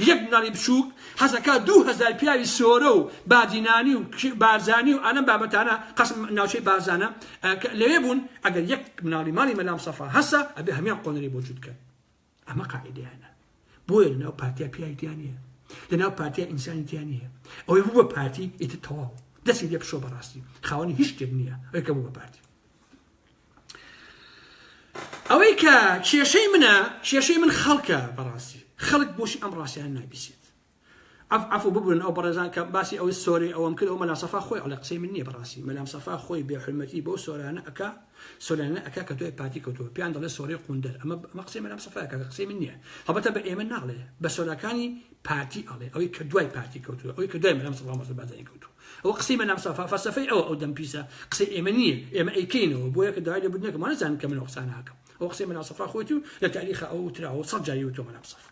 یەک مناڵی بچووک حەزەکە دوو هەزار پیاوی سۆرە و بادینانی و بارزانی و ئەلم بابەتانە قەسم ناوچەی بارزانە لەوێ بوون ئەگەر یەک مناڵی ماڵی مەلام سەفا هەسە ئەبێ هەمان قۆنەری بۆ جووتکە ئەمە قاعدیانە بۆیە لەناو پارتیا پیاوی دیانە لەناو پارتیا ئینسانی دیانە ئەوەی بوو بە پارتی ئیتە تەواو دەستی لێ پشۆ بەڕاستی خاوەنی هیچ شتێک نییە ئەوکە بوو بە پارتی ئەوەی کە کێشەی منە کێشەی من خەڵکە بەڕاستی خەڵک بۆشی ئەم ڕاستیان نابیسێت ئەف ئەف و ببوون ئەو بەڕێزان کە باسی ئەوەی سۆری ئەوەم کرد ئەو مەلا سەفا خۆی ئەڵێ قسەی من نییە بەڕاستی مەلام سەفا خۆی بێ حرمەتی بۆ سۆرانە ئەکا سۆرانە ئەکا کە تۆی پارتی کەوتووە پیان دەڵێ سۆری قوندەر ئەمە ئەمە قسەی مەلام سەفا کە قسەی من نییە هەڵبەتە بە ئێمە ناڵێ بە سۆراکانی پارتی ئەڵێ ئەوەی کە دوای پارتی کەوتووە ئەوەی کە دوای مەلام سەفا مەسەبازانی کەوتووە ئەوە قسەی مەلام سەفا فەلسەفەی ئەوە ئەو دەم پیسە قسەی ئێمە نییە ئێمە ئەیکەینەوە بۆیە کە داوای لێبوردن نەکەم وانەزانم کە من ئەو قسانە ئەکەم ئەو قسەی مەلام سەفا خۆیەتی و لە تاریخا ئەو وتراوە و سەد جاری وتۆ مەلام سەفا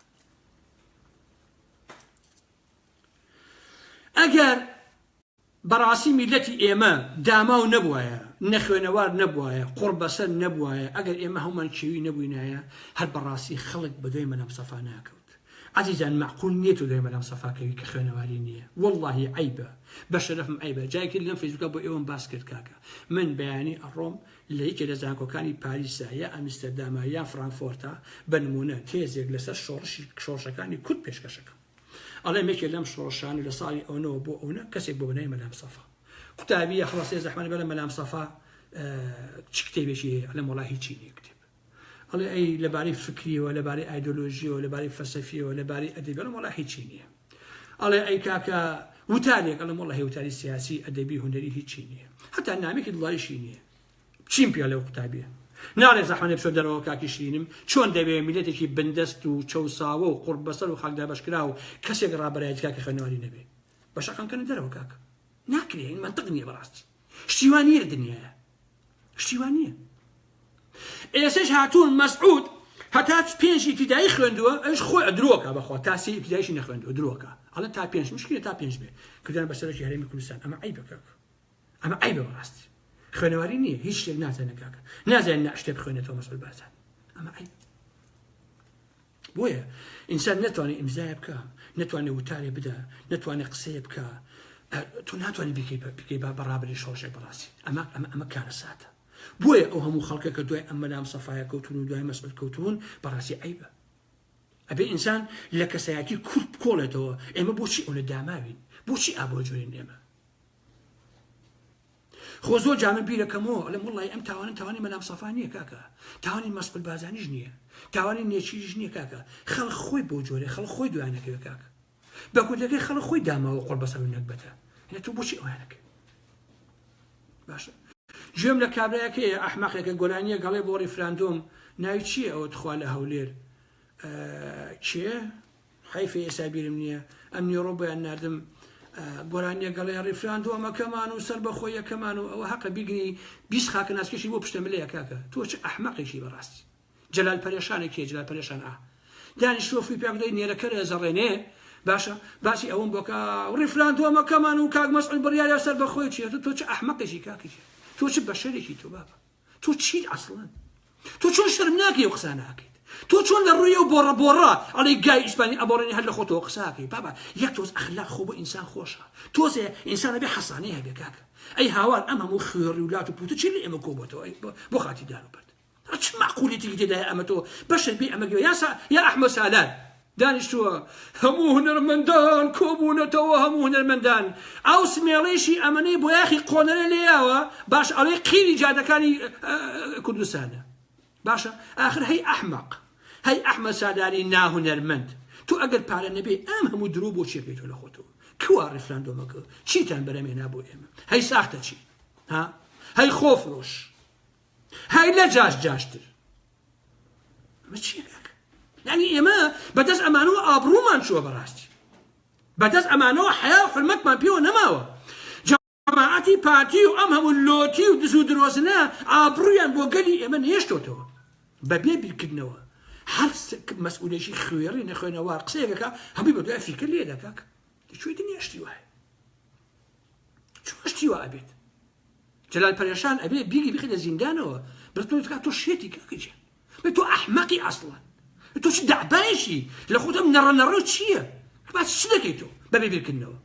ئەگەر بەڕاستی میلەتی ئێمە داماو نەبوایە نەخوێنەوار نەبوایە قوڕ بەسەر نەبوایە ئەگەر ئێمە هەومان چێوی نەبووینایە هەر بەڕاستی خەڵک بەدوای مەلام سەفا ناکەوت ئەزیزان مەعقول نیە تۆ لای مەلام سەفا کەوی کە خوێنەواری نیە وەڵاهی عەیبە بە شەرەفم عەیبە جارێکی لەم فەیسبوکە بۆ ئێوەم باس کرد کاکە من بەیانی ئەڕۆم لە یەکێ لە زانکۆکانی پاریسە یا ئەمیستەردامە یان فرانکفۆرتە بە نمونە تێزێک لەسەر شۆڕشی شۆڕشەکانی کورد پێشکەش ئەکەم ئەڵێم یەکێ لەم شۆڕشانە لە ساڵی ئەونەوە بۆ ئەونە کەسێک بۆ بەناوی مەلام سەفا قوتابیە هەڵەسێ زەحمەت بەلە مەلام سەفا چ کتێبێکی هەیە ئەڵێم وەڵا هیچی نیە کتێب ئەڵێ ئەی لەبارەی فکریەوە لەبارەی ئایدۆلۆژیەوە لەبارەی فەسەفیەوە لەبارەی ئەدەبێڵم وڵا هیچی نییە ئەڵێ ئەی کاکە وتارێک ئەڵم وڵە هێوتاری سیاسی ئەدەبی هوەری هیچی نییە هەتا نامێکی دڵایشی نییە چیم پێ لەو قوتابێ ناڵێ زەحمەێ بچۆ دەرەوە کاکی شیرینم چۆن دەوێ میلەتێکی بندەست و چەساوە و قڕ بەسەر و خاکدا بەشکرا و کەسێک ڕابەرایەت کاکە خوێنەواری نەبێ بەشەکەم کەن دەرەوە کاکە ناکرێن منتق نییە بەڕاستی شتیوان نیە دنیاە شتی وا نییە ئێسش هاتوون مەسعود هەتا پێنج ئیبتیدایی خوێندووە ئەوش خۆی درۆکە بەخوا تا سێ ئیبتیدایشی نەخوێندووە درۆکە ئەڵە تا پێنج مشکلە تا پێنج بێ کردیان بە سەرۆکی هەرێمی کوردستان ئەمە عیبە کاکە ئەمە عیبە بەڕاستی خوێنەواری نییە هیچ شتێک نازانە کاکە نازانین نە شتێ بخوێنێتەوە مەسعود بارزان ئەمە عیب بۆیە ئینسان نەتوانێ ئیمزایە بکا نەتوانێ وتارێ بدا نەتوانێ قسەیە بکا تۆ ناتوانانی بکەی بکەی با بەڕابری شۆشێک بڕاستی ئەمە ئەمە ئەمە کارە ساتە بۆیە ئەو هەموو خەڵکە کە دوای ئەم مەلام سەفاە کەوتون و دوای مەسعود کەوتون بەڕاستی عیبە ئەبێ ئینسان لە کەسایەتی کورد بکۆڵێتەوە ئێمە بۆچی ئەو لە داماوین بۆچی ئابۆجوێن ئێمە خۆ زۆر جار من بیرەکەمەوە ئەڵێم وەڵڵاهی ئەم تاوانە تاوانی مەلا مستەفا نییە کاکە تاوانی مەسقول بارزانیش نییە تاوانی نێچیریش نییە کاکە خەڵک خۆی بۆ جۆرێ خەڵک خۆی دوای نەکەوێت کاکە بە کوردەکەی خەڵک خۆی داماوە قۆڵ بەسەر و نەگبەتە هەنە تۆ بۆچی ئەویان نەکەی باشە گوێم لە کابراەکەی ئەحمەقێکە گۆرانیە گەڵێ بۆ ڕیفراندۆم ناوی چییە ئەوە تخوا لە هەولێر چێ حەیف ئێستا بیرم نییە ئەمنیڕۆ بۆیان ناردم گۆرانیە گەڵێ ڕیفراندۆمەکەمان و سەر بەخۆیەکەمان و ئەوە حەقە بیگنی بیست خاکە ناسکەشی بۆ پشتە ملەیە کاکە تۆ چ ئەحمەقێکی بەڕاستی جەلال پەرێشانە کێ جلال پەرێشان ئا دانیش تۆ فوی پێکدەی نێرەکە لە زەڕێنێ باشە باسی ئەوم بۆکە ڕیفراندۆمەکەمان و کاک مەسعود بڕیارە سەر بەخۆی چێت تۆ چ ئەحمەقێکی کاکەی تۆ چ بەشەرێکی تۆ بابە تۆ چیت ئەسڵەن؟ تۆ چۆن شەرم ناکەی و قسە ناکەیت تۆ چۆن لە ڕووی و بۆڕە بۆڕە ئەڵێ گای ئیسپانی ئەبڕێنی هەر لە خۆتەوە قساکەی بابا یەک تۆز ئەخلاق خۆ بۆ ئینسان خۆشە تۆزێ ئینسانە بێ حەسانەی هەبێ کاکە ئەی هاوار ئەم هەموو خوێڕی و لات و پوتە چی لە ئێمە کۆبەتەوە بۆ خاتی دار و بەرد چ معقولیتێکی تێدایە ئەمە تۆ بەشێک بێ ئەمە گوێ یاسا یا ئەحمە سالار دانیشتووە هەموو هونەرمەندان کۆبوونەتەوە هەموو هونەرمەندان ئاو سمێڵیشی ئەمەنەی بۆیاخی قۆنەرە لێیاوە باش ئەڵێ قیری جادەکانی کوردستانە باشە ئاخر هەی ئەحمەق هەی ئەحمە سالاری ناهونەرمەند تو ئەگەر پارە نەبێ ئەم هەموو درۆ بۆ چێ پێێتۆ لە خۆتەوە کوا ڕفراندۆمەکە چیتان بەرەمێنا بۆ ئێمە هەی ساختە چی ها هەی خۆفرۆش هەی لە جاش جاشتر ئەمە چیە کاکە یعنی ئێمە بەدەست ئەمانەوە ئابڕوومان چووە بەڕاستی بەدەست ئەمانەوە حیا و حرمەتمان پێوە نەماوە جەماعەتی پارتی و ئەم هەموو لۆتی و دز و درۆزنە ئابڕویان بۆ گەلی ئێمە نێشتۆتەوە بەبێ بیرکردنەوە هەر مەسئولێکی خوێڕی نەخوێنەوار قسەیەکەکە هەمووی بە دوای فیکر لێ دەکاک دەچوی دنیا شتی وایە چۆن شتی وا ئەبێت جلال پەرێشان ئەبێ بیگی بخێنە زیندانەوە بەتۆ تکا تۆ شێتی کاکەجێ بە تۆ ئەحمەقی ئەسڵە تۆ چ دەعبایەکی لە خۆتم نەڕە نەڕۆ چییە باس چ دەکەیت تۆ بەبێ بیرکردنەوە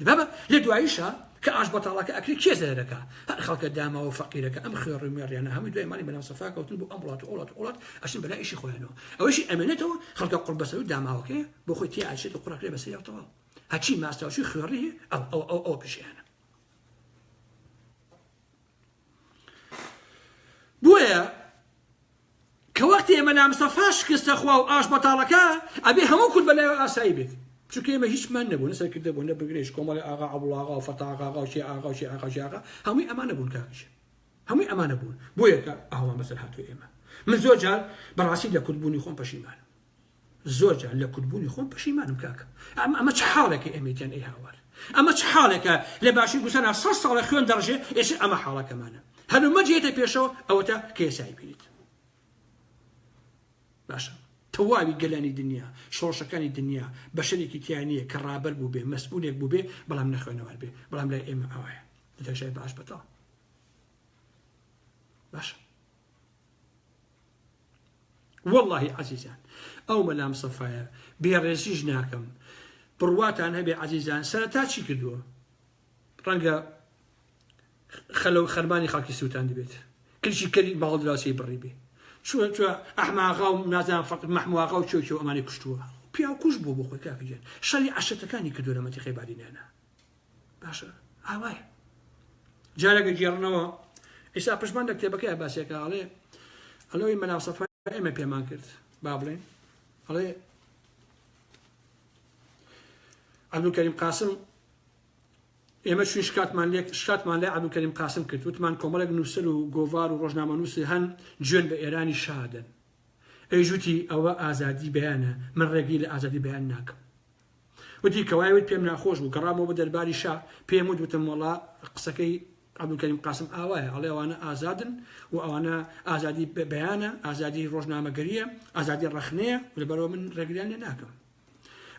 بابە لە دواییشە کە ئاش بەتاڵەکە ئەکری کێ زەرەکە هەر خەڵکە داماوە فەقیرەکە ئەم خوێڕ و مێڕیانە هەمووی دوای ماڵی بەناو سەفا کەوتن بۆ ئەم وڵات و وڵات وڵات ئەشن بەلا ئیشی خۆیانەوە ئەوەشی ئەمێنێتەوە خەڵکە قڕبەسەر و داماوەکەی بۆ خۆی تێ ئاچێت و قوڕەکرێ بەسەری ئەو تەواو هەچی ماستاوچوی خوێڕی هەیە ئەو ئەو ئەو ئەو پیشیانە بۆیە کە وەختی ئێمە لامسەفا شکستە خوا و ئاش بەتاڵەکە ئەبێ هەموو کورد بەلای ئاسایی بێت چونکە ئێمە هیچمان نەبوون سەرکردە بوون نە بگرێش کۆمەڵی ئاغا عبڵاغا و فەتاغاغا و شێ ئاغا و شێ ئاغاژاغا هەمووی ئەمانە بوون کاکیش هەمووی ئەمانە بوون بۆیە کە ئاوان بەسەر هاتوو ئێمە من زۆر جار بەڕاستی لە کوردبوونی خۆم پەشیمان زۆر جار لە کورد بوونی خۆم پەشیمانم کاکە ئەم ئەمە چ حاڵێکە ئێمەی تیان ئەی هاوار ئەمە چ حاڵێکە لە باشووری کوردستان ها سەد ساڵە خوێن دەڕژێ ئێشێ ئەمە حاڵەکەمانە هەلومەرج یەتە پێشەوە ئەوەتا کە یەسایی بینیت باشە تەواوی گەلانی دنیا شۆڕشەکانی دنیا بەشەرێکی تیا نییە کە ڕابەر بوو بێ مەسئولێک بوو بێ بەڵام نەخوێنەوار بێ بەڵام لای ئێمە ئاوایە دەشای باش بەتاڵ باشە وەڵاهی عەزیزان ئەو مەلا مستەفایە بێ ڕێزیش ناکەم بڕواتان هەبێ عەزیزان سەرەتا چی کردووە ڕەنگە خەلە و خەرمانی خەڵکی سووتان دەبێت کلشی کەری باڵدراسی بڕی بێ چوە چوە ئەحماغا و نازان فەق مەحمواغا و چۆکی و ئەمانی کوشتووە پیاو کوش بوو بۆ خۆی کاکەگەن شەری عشتەکانی کردو لە مەتیقی بادینانە باشە ئاوایە جارێکە گێڕنەوە ئیسا پشمان لە کتێبەکەی باسێکە ئەڵێ ئەلەوەی مەناسەفا ئێمە پێمان کرد با بڵێن ئەڵێ عبدکەریم قاسم ئێمە چون شکاتمان لێک شکاتمان لە عبدکەریم قاسم کرد وتمان کۆمەڵێک نووسەر و گۆڤار و ڕۆژنامە نووسی هەن جوێن بە ئێرانی شادن ئەی جوتی ئەوە ئازادی بیانە من ڕێگەی لە ئازادی بیان ناکەم وتی کە وای وت پێم ناخۆش بوو گەڕامەوە بۆ دەرباری شا پێم وت وتم وەڵا قسەکەی عەبدولکەریم قاسم ئاوایە ئەڵێ ئەوانە ئازادن و ئەوانە ئازادی بیانە ئازادی ڕۆژنامەگەریە ئازادی ڕەخنەیە و لەبەرەوە من ڕێگریان لێ ناکەم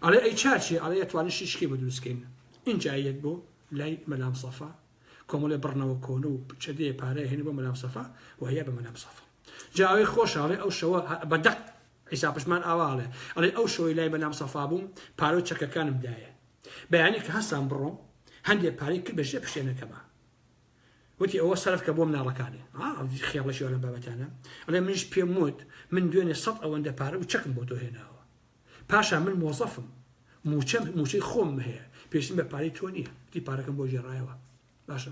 ئەڵێ ئەی چاچی ئەڵێ ئەتوانن شیشکی بە دروستکەین اینجا یەک بۆ لای مەلام سەفا کۆمەڵێ بڕنەوە کۆن و چەدێ پارەیە هێن بۆ مەلام سەفا و هەیە بە مەلام سەفا جاوەی خۆشاڵێ ئەو شەوە بەدەق عیسا پشمان ئاوا ئەڵێ، ئەڵێ ئەو شەوەی لای مەلام سەفا بووم، پارە و چەکەکانم دایێ. بەیانی کە هەستام بڕۆم، هەندێ پارەی کرد بە ژێ پشتێنەکەما. وتی ئەوە سەرف کە بۆ مناڵەکانێ. ها، خێڵەکی وا لەم بابەتانە. ئەڵێ منیش پێم وت، من دوێنێ سەد ئەوەندە پارە و چەکم بۆ تۆ هێناوە. پاشان من مۆزەفم. مووچەم، مووچەی خۆمم هەیە. پێویستیم بە پارەی تۆ نییە. وتی پارەکەم بۆ گێڕایەوە. باشە.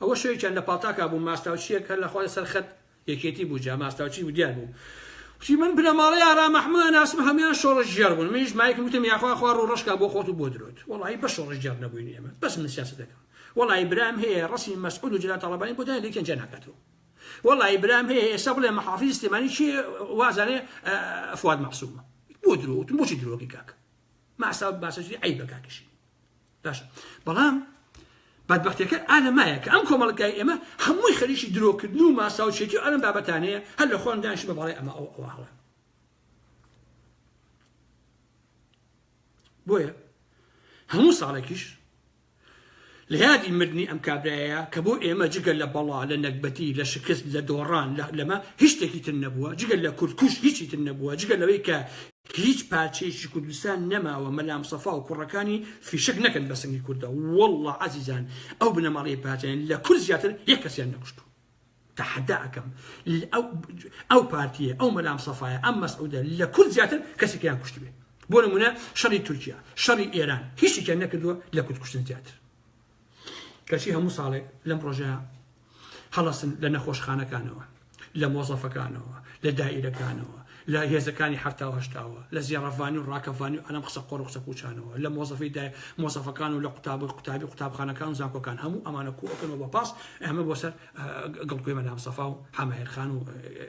ئەوە شەوێکیان لە پاڵتاکا بووم ماستاوچییەک هەر لە خوا لەسەر خەت یەکێتی بوو جا ماستاوچی بوو دیار بوو وتی من بنەماڵەی ئارا مەحموود ئەناسم هەمویان شۆڕشگێڕ بوون منیش مایکم وتم یاخوا خوا ڕوو ڕەشکا بۆ خۆت و بۆ درۆت وەڵاهی بەس شۆڕشگێڕ نەبووین ئێمە بەس من سیاسەت دەکەم وەڵاهی برام هەیە ڕەسمی مەسعود و جەلال تاڵەبانی بۆ دایان لێکیان جیا ناکاتەوە وەڵاهی برام هەیە ئێستا بڵێ محافیز سلێمانی چی وازانێ فواد مەعسومە بۆ درۆ وتم بۆچی درۆکەی کاک ماسا باسەجی عیبە کاکیشی باشە بەڵام بەدبەختیەکە ئالە مایە کە ئەم کۆمەڵگای ئێمە هەمووی خەریکی درۆکردن و ماساوچێتی و ئەلم بابەتانەیە هەر لە خۆیان دانیشن بە باڵی ئەمە ئەو ئەوە هەڵە بۆیە هەموو ساڵێکیش لە یادی مردنی ئەم کابرایە کە بۆ ئێمە جگە لە بەڵا لە نەکبەتی لە شکست لە دۆڕان لەمە هیچ شتێکی تر نەبووە جگە لە کوردکوش هیچی تر نەبووە جگە لەوەی کە هیچ پارچەیەکی کوردستان نەماوە مەلامسەفا و کوڕەکانی فیشەک نەکەن بە سنگی کوردا واللە عەزیزان ئەو بنەماڵەی پارتیان لە کورد زیاتر یەک کەسیان نەکوشتووە تحدا ئەکەم ئەو پارتیە ئەو مەلام سەفاایە ئەم مەسعودە لە کورد زیاتر کەسێکیان کوشتبێ بۆ نمونە شەڕی تورکیا شەڕی ئێران هیچیان نەکردووە لە کورد کوشتن زیاتر کەچی هەموو ساڵێک لەم ڕۆژە هەڵەسن لە نەخۆشخانەکانەوە، لە مۆزەفەکانەوە، لە دائیرەکانەوە، لە هێزەکانی حەفتا و هەشتاوە، لە زێڕەڤانی و ڕاکەڤانی و ئەم قسە قۆڕ و قسە پووچانەوە، لە مۆزەفی دای مۆزەفەکان و لە قوتاب و قوتابی قوتابخانەکان و زانکۆکان هەموو ئەمانە کۆ ئەکەن و بە پاس ئەمە بۆ سەر گڵکۆی مەلام سەفا و حەمایر خان و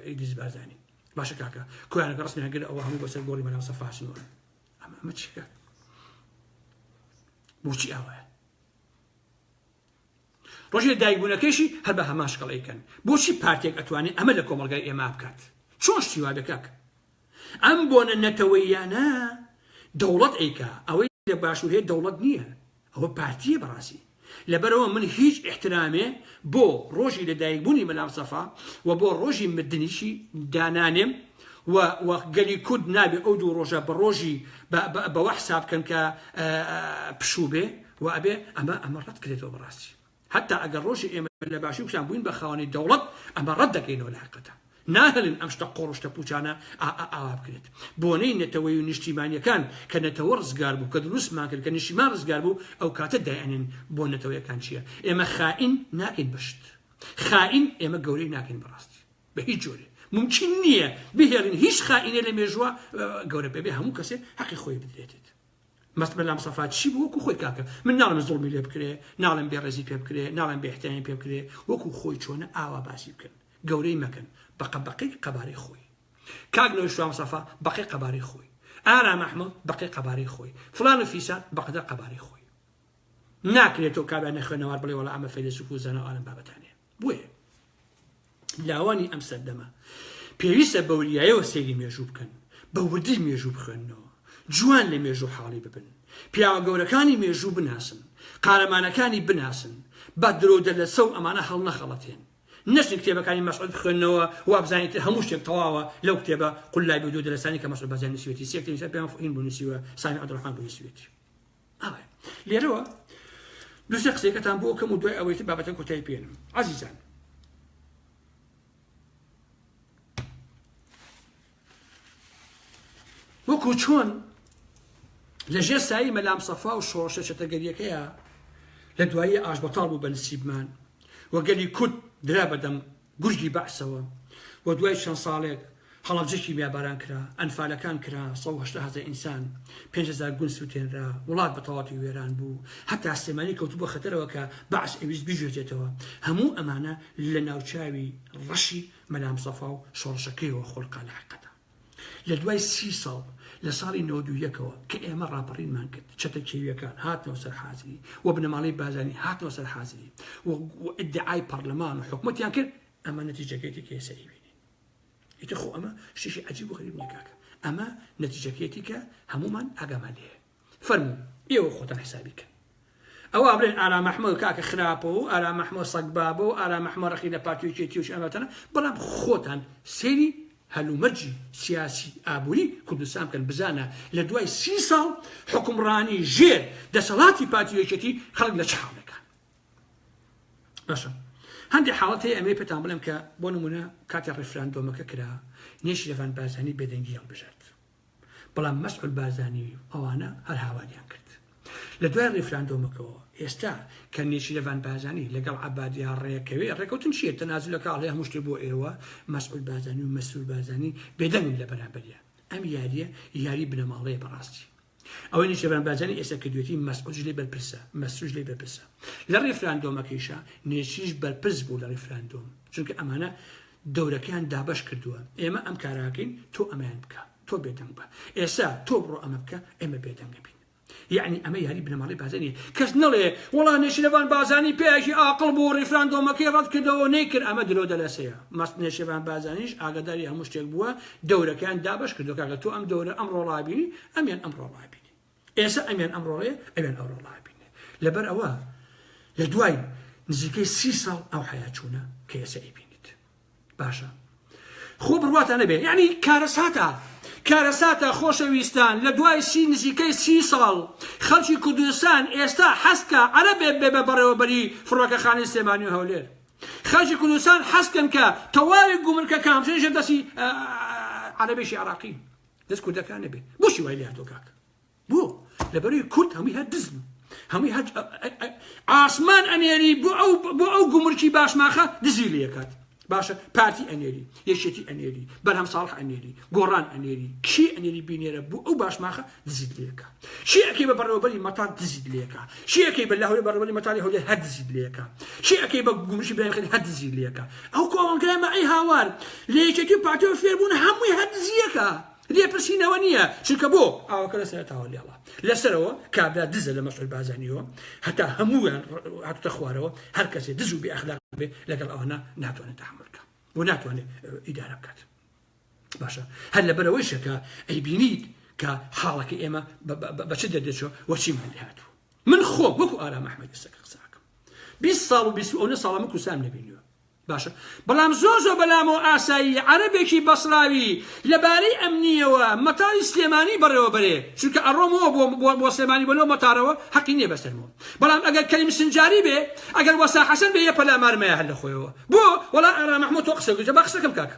ئیدریس بارزانی باشە کاکە کۆیانەکە ڕسمیان گرت ئەوە هەموو بەسەر گۆڕی مەلام سەفا هەچنەوە ئەمە ئەمە چیکە بۆچی ئەوەیە ڕۆژێ دایبوونەکەشی هەر بە هەماشکەڵیکەن بۆچی پارتێک ئەتوانێت ئەمە لە کۆمەلگای ئێمە بکات چۆن شتیوا دەکەک ئەم بۆنە نەتەوەیانە دەوڵەت ئەیکا ئەوەی لە باشوور هەیە دەوڵەت نییە ئەوە پارتیە بەڕاستی لەبەرئەوە من هیچ ئیحترامێ بۆ ڕۆژی لەدایک بوونی مەلامسەفا و بۆ ڕۆژی مردنیشی دانانێم و و گەلی کورد نابێ ئەو دوو ڕۆژە بە ڕۆژی بەوە حساب کەن کە پشوو بێ و ئەبێ ئەمە ئەمە ڕەت کرێتەوە بەڕاستی. حەتا ئەگەر ڕۆژی ئێمە لە باشی کوشان بووین بە خاوەنی دەوڵەت ئەمە ڕەت دەکەینەوە لە حقەتە ناهێلن ئەم شتە قۆڕ و شتە پووچانە ئاوا بکرێت بۆنەی نەتەوەی و نیشتیمانیەکان کە نەتەوە ڕزگار بوو کە دروستمان کرد کە نیشتیمان ڕزگار بوو ئەو کاتە دایانێن بۆ نەتەوەیەکان چییە ئێمە خائین ناکەین بە شت خائین ئێمە گەورەی ناکەین بەڕاستی بە هیچ جۆرێ ممکن نییە بهێڵین هیچ خائینێ لە مێژووە گەورە بێ بێ هەموو کەسێ حەقی خۆی بدرێتێت مەست مەلا مستەفا چی بوو وەکو خۆی کاکە من ناڵێم زوڵمی لێ بکرێ ناڵێم بێ ڕێزی پێ بکرێ ناڵێم بێ ئیحترامی پێ بکرێ وەکو خۆی چۆنە ئاوا باسی بکەن گەورەی مەکەن بەقە بەقەی قەبارەی خۆی کاک نەوەی شوام مستەفا بەقەی قەبارەی خۆی ئارام ئەحمەد بەقەی قەبارەی خۆی فلان و فیسان بەقەدەر قەبارەی خۆی ناکرێت تۆ کابرا نەخوێنەوار بڵێ وەڵا ئەمە فەیلەسوف و زانا و ئالم بابەتانێ بۆیە لاوانی ئەم سەردەمە پێویستە بەوریایەوە سەیری مێژوو بکەن بە وردی مێژوو بخوێننەوە جوان لە مێژوو حاڵی ببن پیاوە گەورەکانی مێژوو بناسن قارەمانەکانی بناسن بە درۆ دەلەسە و ئەمانە هەڵنەخەڵەتێن نەچن کتێبەکانی مەسعود بخوێنەوە وابزانین تر هەموو شتێک تەواوە لەو کتێبە قلای بۆ دوو دەلەسانی کە مەسعود بەزیان نووسیوێتی سێکتەری سەر پێیان فهین بوو نووسیوە سامی عەبدولڕەحمان بوو نووسیوێتی ئەوە لێرەوە دوسێ قسەکەتان بۆ کەم و دوای ئەوەیتر بابەتە کۆتای پێێنم عزیزان وەکو چۆن لە ژێر سایی مەلام سەفا و شۆڕشە چەتەگەریەکەیە لە دوایی ئاش بەتاڵ بوو بە نسیبمان وەگەلی کورد درا بەدەم گورگی بەعسەوە و دوای چەند ساڵێک هەڵەبجە کیمیاباران کرا، ئەنفالەکان کرا، سەد و هەشتا هەزە ئینسان، پێنج هەزار گوند سوتێنرا، وڵات بە تەواوەتی وێران بوو، هەتا سلێمانی کەوتبوە خەتەرەوە کە بەعس ئەیویست بیگوێزێتەوە، هەموو ئەمانە لە ناوچاوی ڕەشی مەلا مستەفا و شۆڕشەکەیەوە خۆلقە لە حەقەدا. لە دوای سی ساڵ لە ساڵی نەوەد و یەکەوە کە ئێمە ڕاپەڕینمان کرد چەتە کێویەکان هاتنەوە سەر حازری و بنەماڵەی بازانی هاتنەوە سەر حازری و ئیدعای پەرلەمان و حکومەتیان کرد ئەمە نەتیجەکەیتی کە ئێستا ئیبینی ئیتر خۆ ئەمە شتێکی عەجیب و غەریب نییە کاکە ئەمە نەتیجەکەیتی کە هەمومان ئاگامان لێیە فەرموو ئێوە خۆتان حسابی کەن ئەوە ئەبرێن ئارام ئەحمەد کاکە خراپە و ئارام ئەحمەد سەگ بابە و ئارام ئەحمە ڕقی لە پارتی و کێتی و شەمەتەنە بەڵام خۆتان سەیری هەلومەرجی سیاسی ئابووری کوردستان بکەن بزانە لە دوای سی ساڵ حکومڕانی ژێر دەسەڵاتی پارتی یەکێتی خەڵک لە چ حاڵێکە باشە هەندێک حاڵەت هەیە ئەمەی پێتان بڵێم کە بۆ نمونە کاتی ڕیفراندۆمەکە کرا نێشیرەفان بازانی بێدەنگی هەڵبژارد بەڵام مەسعود بارزانی و ئەوانە هەر هاواریان کرد لە دوای ڕیفراندۆمەکەوە ئێستا کە نێچیرەڤان بارزانی لەگەڵ عەبادیا ڕێکەوێ ڕێکەوتن چیە تەنازولەکە ئەڵێ هەموو شتێ بۆ ئێوە مەسعود بارزانی و مەسرور بارزانی بێدەنگن لە بەرامبەریا ئەم یاریە یاری بنەماڵەیە بەڕاستی ئەوەی نێچیرەڤان بارزانی ئێستا کردوێتی مەسعودش لێ بەرپرسە مەسروش لێ بەرپرسە لە ڕیفراندۆمەکەیشە نێچیش بەرپرس بوو لە ڕیفراندۆم چونکە ئەمانە گەورەکەیان دابەش کردووە ئێمە ئەم کاراکەین تۆ ئەمەیان بکە تۆ بێدەنگ بە ئێسا تۆ بڕۆ ئەمە بکە ئێمە بێدەنگە بین یعنی ئەمە یاری بنەماڵی بازنی کەس نڵێ وڵا نێشرەبان بازانی پێیاکی ئاقل بۆ ڕیفراندۆمەکەی ڕەت کردەوە نەیکرد ئەمە درۆ دەلەسەیە مەست نێشێبان بازانیش ئاگداری هەموو شتێک بووە دەورەکەیان دابش کردو کاکە تۆ ئەم دەورە ئەم ڕۆڵابی ئەمیان ئەم ڕۆڵابی ئێسە ئەمیان ئەمڕۆڵێ ئەوێن ئەوڕۆ ڵابینێ لەبەر ئەوە لە دوای نزیکەی سی ساڵ ئەو حیا چوونە کە ئێسە ئەیبینیت باشە خۆ بڕواتان نەبێ یعنی کارەساتە کارەساتە خۆشەویستان لە دوای سی نزیکەی سی ساڵ خەڵکی کوردستان ئێستا حەستکە عەرەبێ بێ بە بەڕێوەبەری فڕۆکەخانەی سلێمانی و هەولێر خەڵکی کوردستان حەستکەن کە تەواوی گومرکەکان بژێژە دەسی عەرەبێکی عراقی دەست کوردەکان نەبێ بۆشی وای لاتۆ کاک بۆ لەبەروی کورد هەمووی هەر دزن هەمووی هەر ئاسمان ئەنێری بۆ ئەو بۆ ئەو گومرکی باشماخە دزی لەکات باشە پارتی ئەنێری یەکێتی ئەنێری بەرهەم ساڵح ئەنێری گۆڕان ئەنێری کی ئەنێری بینێرە بۆ ئەو باشماخە دزیت لەکات چی ئەکەی بە بەڕێوەبەری مەتان دزیت لێکا چی ئەکەی بە لەهەولێ بەڕێوەبەری مەتانی هەولێر هەر دزیت لێکا چی ئەکەی بە گومرشی برایم هەر دزیت لێکا ئەو کۆمەڵگای مەعەی هاوار لە یەکێتی و پارتیەوە فێر بوون هەمووی هەر دزیەکە لێپرسینەوە نییە چونکە بۆ ئاوەکە لە سەرتاوە لێڵە لەسەرەوە کابرا دزە لە مەسعود بازانیەوە هەتا هەموویان هاتوتە خوارەوە هەر کەسێ دز و بێ ئەخلاق بێ لەگەڵ ئەوانە ناتوانێت تحمل بکە و ناتوانێت ئیدارە بکات باشە هەر لەبەرەوەیشە کە ئەیبینیت کە حاڵەکە ئێمە بە چ دەردەچوە وە چیمان لێ هاتوو من خۆ وەکو ئارام ئەحمەد ئێستەکە قساکەم 20 ساڵ و 20 ئەو ساڵە من کوسام نەبینیوە باشە بەڵام زۆر زۆر بەلامەوە ئاسایی عەربێکی بەسراوی لەبارەی ئەمنیەوە مەتاری سلێمانی بەڕێوە بەرێ چونکە ئەڕۆمەوە بۆ بۆ سلێمانی بەلەوە مەتارەوە حەقی نییە بەسەرمەوە بەڵام ئەگەر کەریم سنجاری بێ ئەگەر وەسا حەسەن بێ یە پەلامارمەیە هەر لە خۆیەوە بۆ وەڵا ئارام محمود تۆ قسە گوجە بە قسەکەم کاکە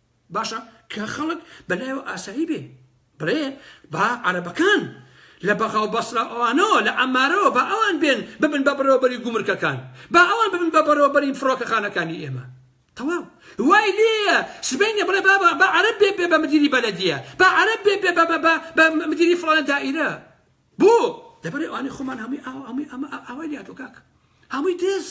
باشە کە خەڵک بەلایەوە ئاسایی بێ بڵێ با عەرەبەکان لە بەغا و بەسرا ئەوانەوە لە عەمارەوە با ئەوان بێن ببن بە بەرەوبەری گومرکەکان با ئەوان ببن بە بەرەوبەری فڕۆکەخانەکانی ئێمە تەواو وای لێیە سبەینێ بڵێ بابا با عەرەب بێ بێ بە مدیری بەلەدیە با عەرەب بێ بێ بە بە بە مدیری فڵانە دائیرە بۆ؟ دەبەر ئەوانەی خۆمان هەمووی ئاوا هەمووی ئەمە ئاوای لاتۆ کاکە هەمووی دز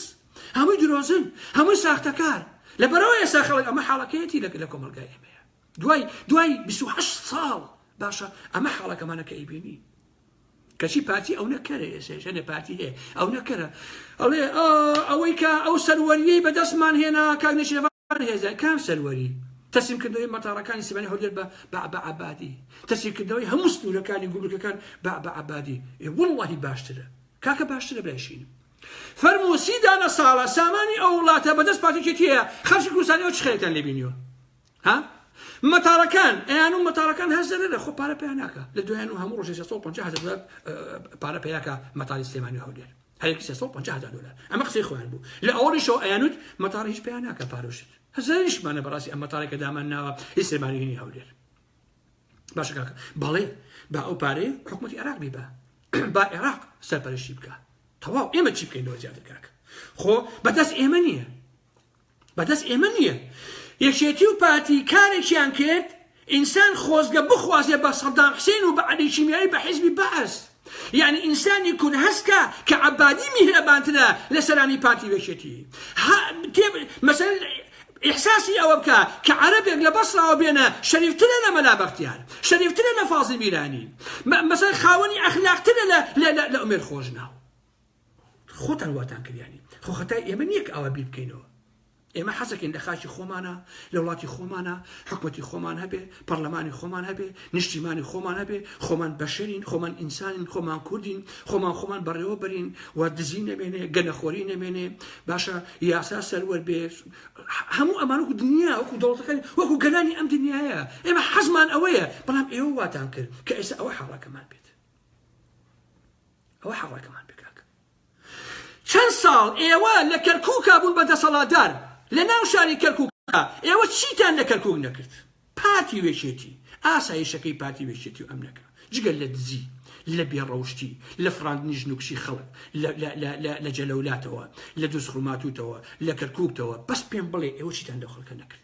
هەمووی درۆزن هەمووی ساختەکار لەبەرەوە ئێستا خەڵک ئەمە حاڵەکەیەتی لە لە کۆمەلگای ئێمەیە دوای دوای 28 ساڵ باشە ئەمە حاڵەکەمانە کە ئەیبینی کەچی پارتی ئەو نەکەرە ئێسێژەێ پارتی هەیە ئەو نەکەرە ئەڵێ ئەوەی کە ئەو سەروەریەی بەدەستمان هێنا کاک نشێڤ بەرهێزە کام سەروەری؟ تەسلیمکردنەوەی مەتاڕەکانی سلێمانی هەولێر بە بابە عەبادی، تەسیرکردنەوەی هەموو سنوورەکانی گومرکەکان بابە عەبادی، ئێ وەڵڵاهی باشترە. کاکە باشترە برای شینم. فەرموو سی دانە ساڵە سامانی ئەو وڵاتە بە دەست پارتی یەکێتییە، خەڵکی کوردستانی ئەوە چ خێرێکتان لێ بینیوە؟ ها؟ مەتاڕەکان، ئەیانوو مەتاڕەکان هەر زەرەرە خۆ پارە پیا ناکا، لە دوایانوو هەموو ڕۆژێ سێ سەد و پەنجا هەزار دۆلار پارە پیا کا مەتاڕی سلێمانی و هەولێر. هەرێک سێ سەد و پەنجا هەزار دۆلار ئەمە قسەی خۆیان بوو لە ئەوەڵیشەوە ئەیانوت مەتاڕ هیچ پێیان ناکە پارۆشت هەزاریشمانە بەڕاستی ئەم مەتاڕێکە دامان ناوە هیچ سێمانگەنی هەولێر باشە کاکە بەڵێ با ئەو پارەی حکوومەتی عێراق بیبە با عێراق سەرپەرشی بکە تەواو ئێمە چی بکەین لەوە زیاتر کاکە خۆ بەدەست ئێمە نییە بەدەست ئێمە نیە یەکێتی و پارتی کارێکیان کرد ئینسان خۆزگە بخوازێ بە سەدام حسین و بە عەلی کیمیایی بە حیزبی بەعس یعنی ئینسانی کورد هەستکا کە عەبادی میهرەبانترە لە سەرانی پارتی و یەکێتی مەسەل ئیحساسی ئەوە بکە کە عەرەبێک لە بەسراوە بێنە شەریفترە لە مەلا بەختیار شەریفترە لە فازی بیرانی مەسەر خاوەنی ئەخلاقترە لە لە ئومێر خۆشناو خۆتان واتان کردیانی خۆ خەتای ئێمە نییە کە ئاوا بیر بکەینەوە ئێمە حەزەکەین لە خاکی خۆمانە لە وڵاتی خۆمانە حکوەتی خۆمان هەبێ پەرلەمانی خۆمان هەبێ نیشتیمانی خۆمان هەبێ خۆمان بەشێنین خۆمان ئینسانین خۆمان کوردین خۆمان خۆمان بەڕێوە برین و دزی نەمێنێ گەنەخۆری نەمێنێ باشە یاسا سەروەر بێ هەموو ئەمان وەکو دنیا وەکو دەوڵەتەکان وەکو گەلانی ئەم دنیاە ئێمە حەزمان ئەوەیە بەڵام ئێوە واتان کرد کە ئێستا ئەوە حاڵەکەمان بێت ئەوە حەڕەکەمان پێ کاکە چەند ساڵ ئێوە لە کەرکووکا بوون بە دەسەڵاتدار لە ناو شاری کەرکووکا ئێوە چیتان لە کەرکووک نەکرد پارتی وێچێتی ئاسایشەکەی پارتی وێچێتی و ئەم نەکە جگە لە دزی لە بێڕەوشتی لە فراندنی ژنوکشی خەڵک لە جەلەولاتەوە لە دوزخوماتوتەوە لە کەرکووکتەوە بەس پێم بڵێ ئێوە چیتان لە خەڵکە نەکرد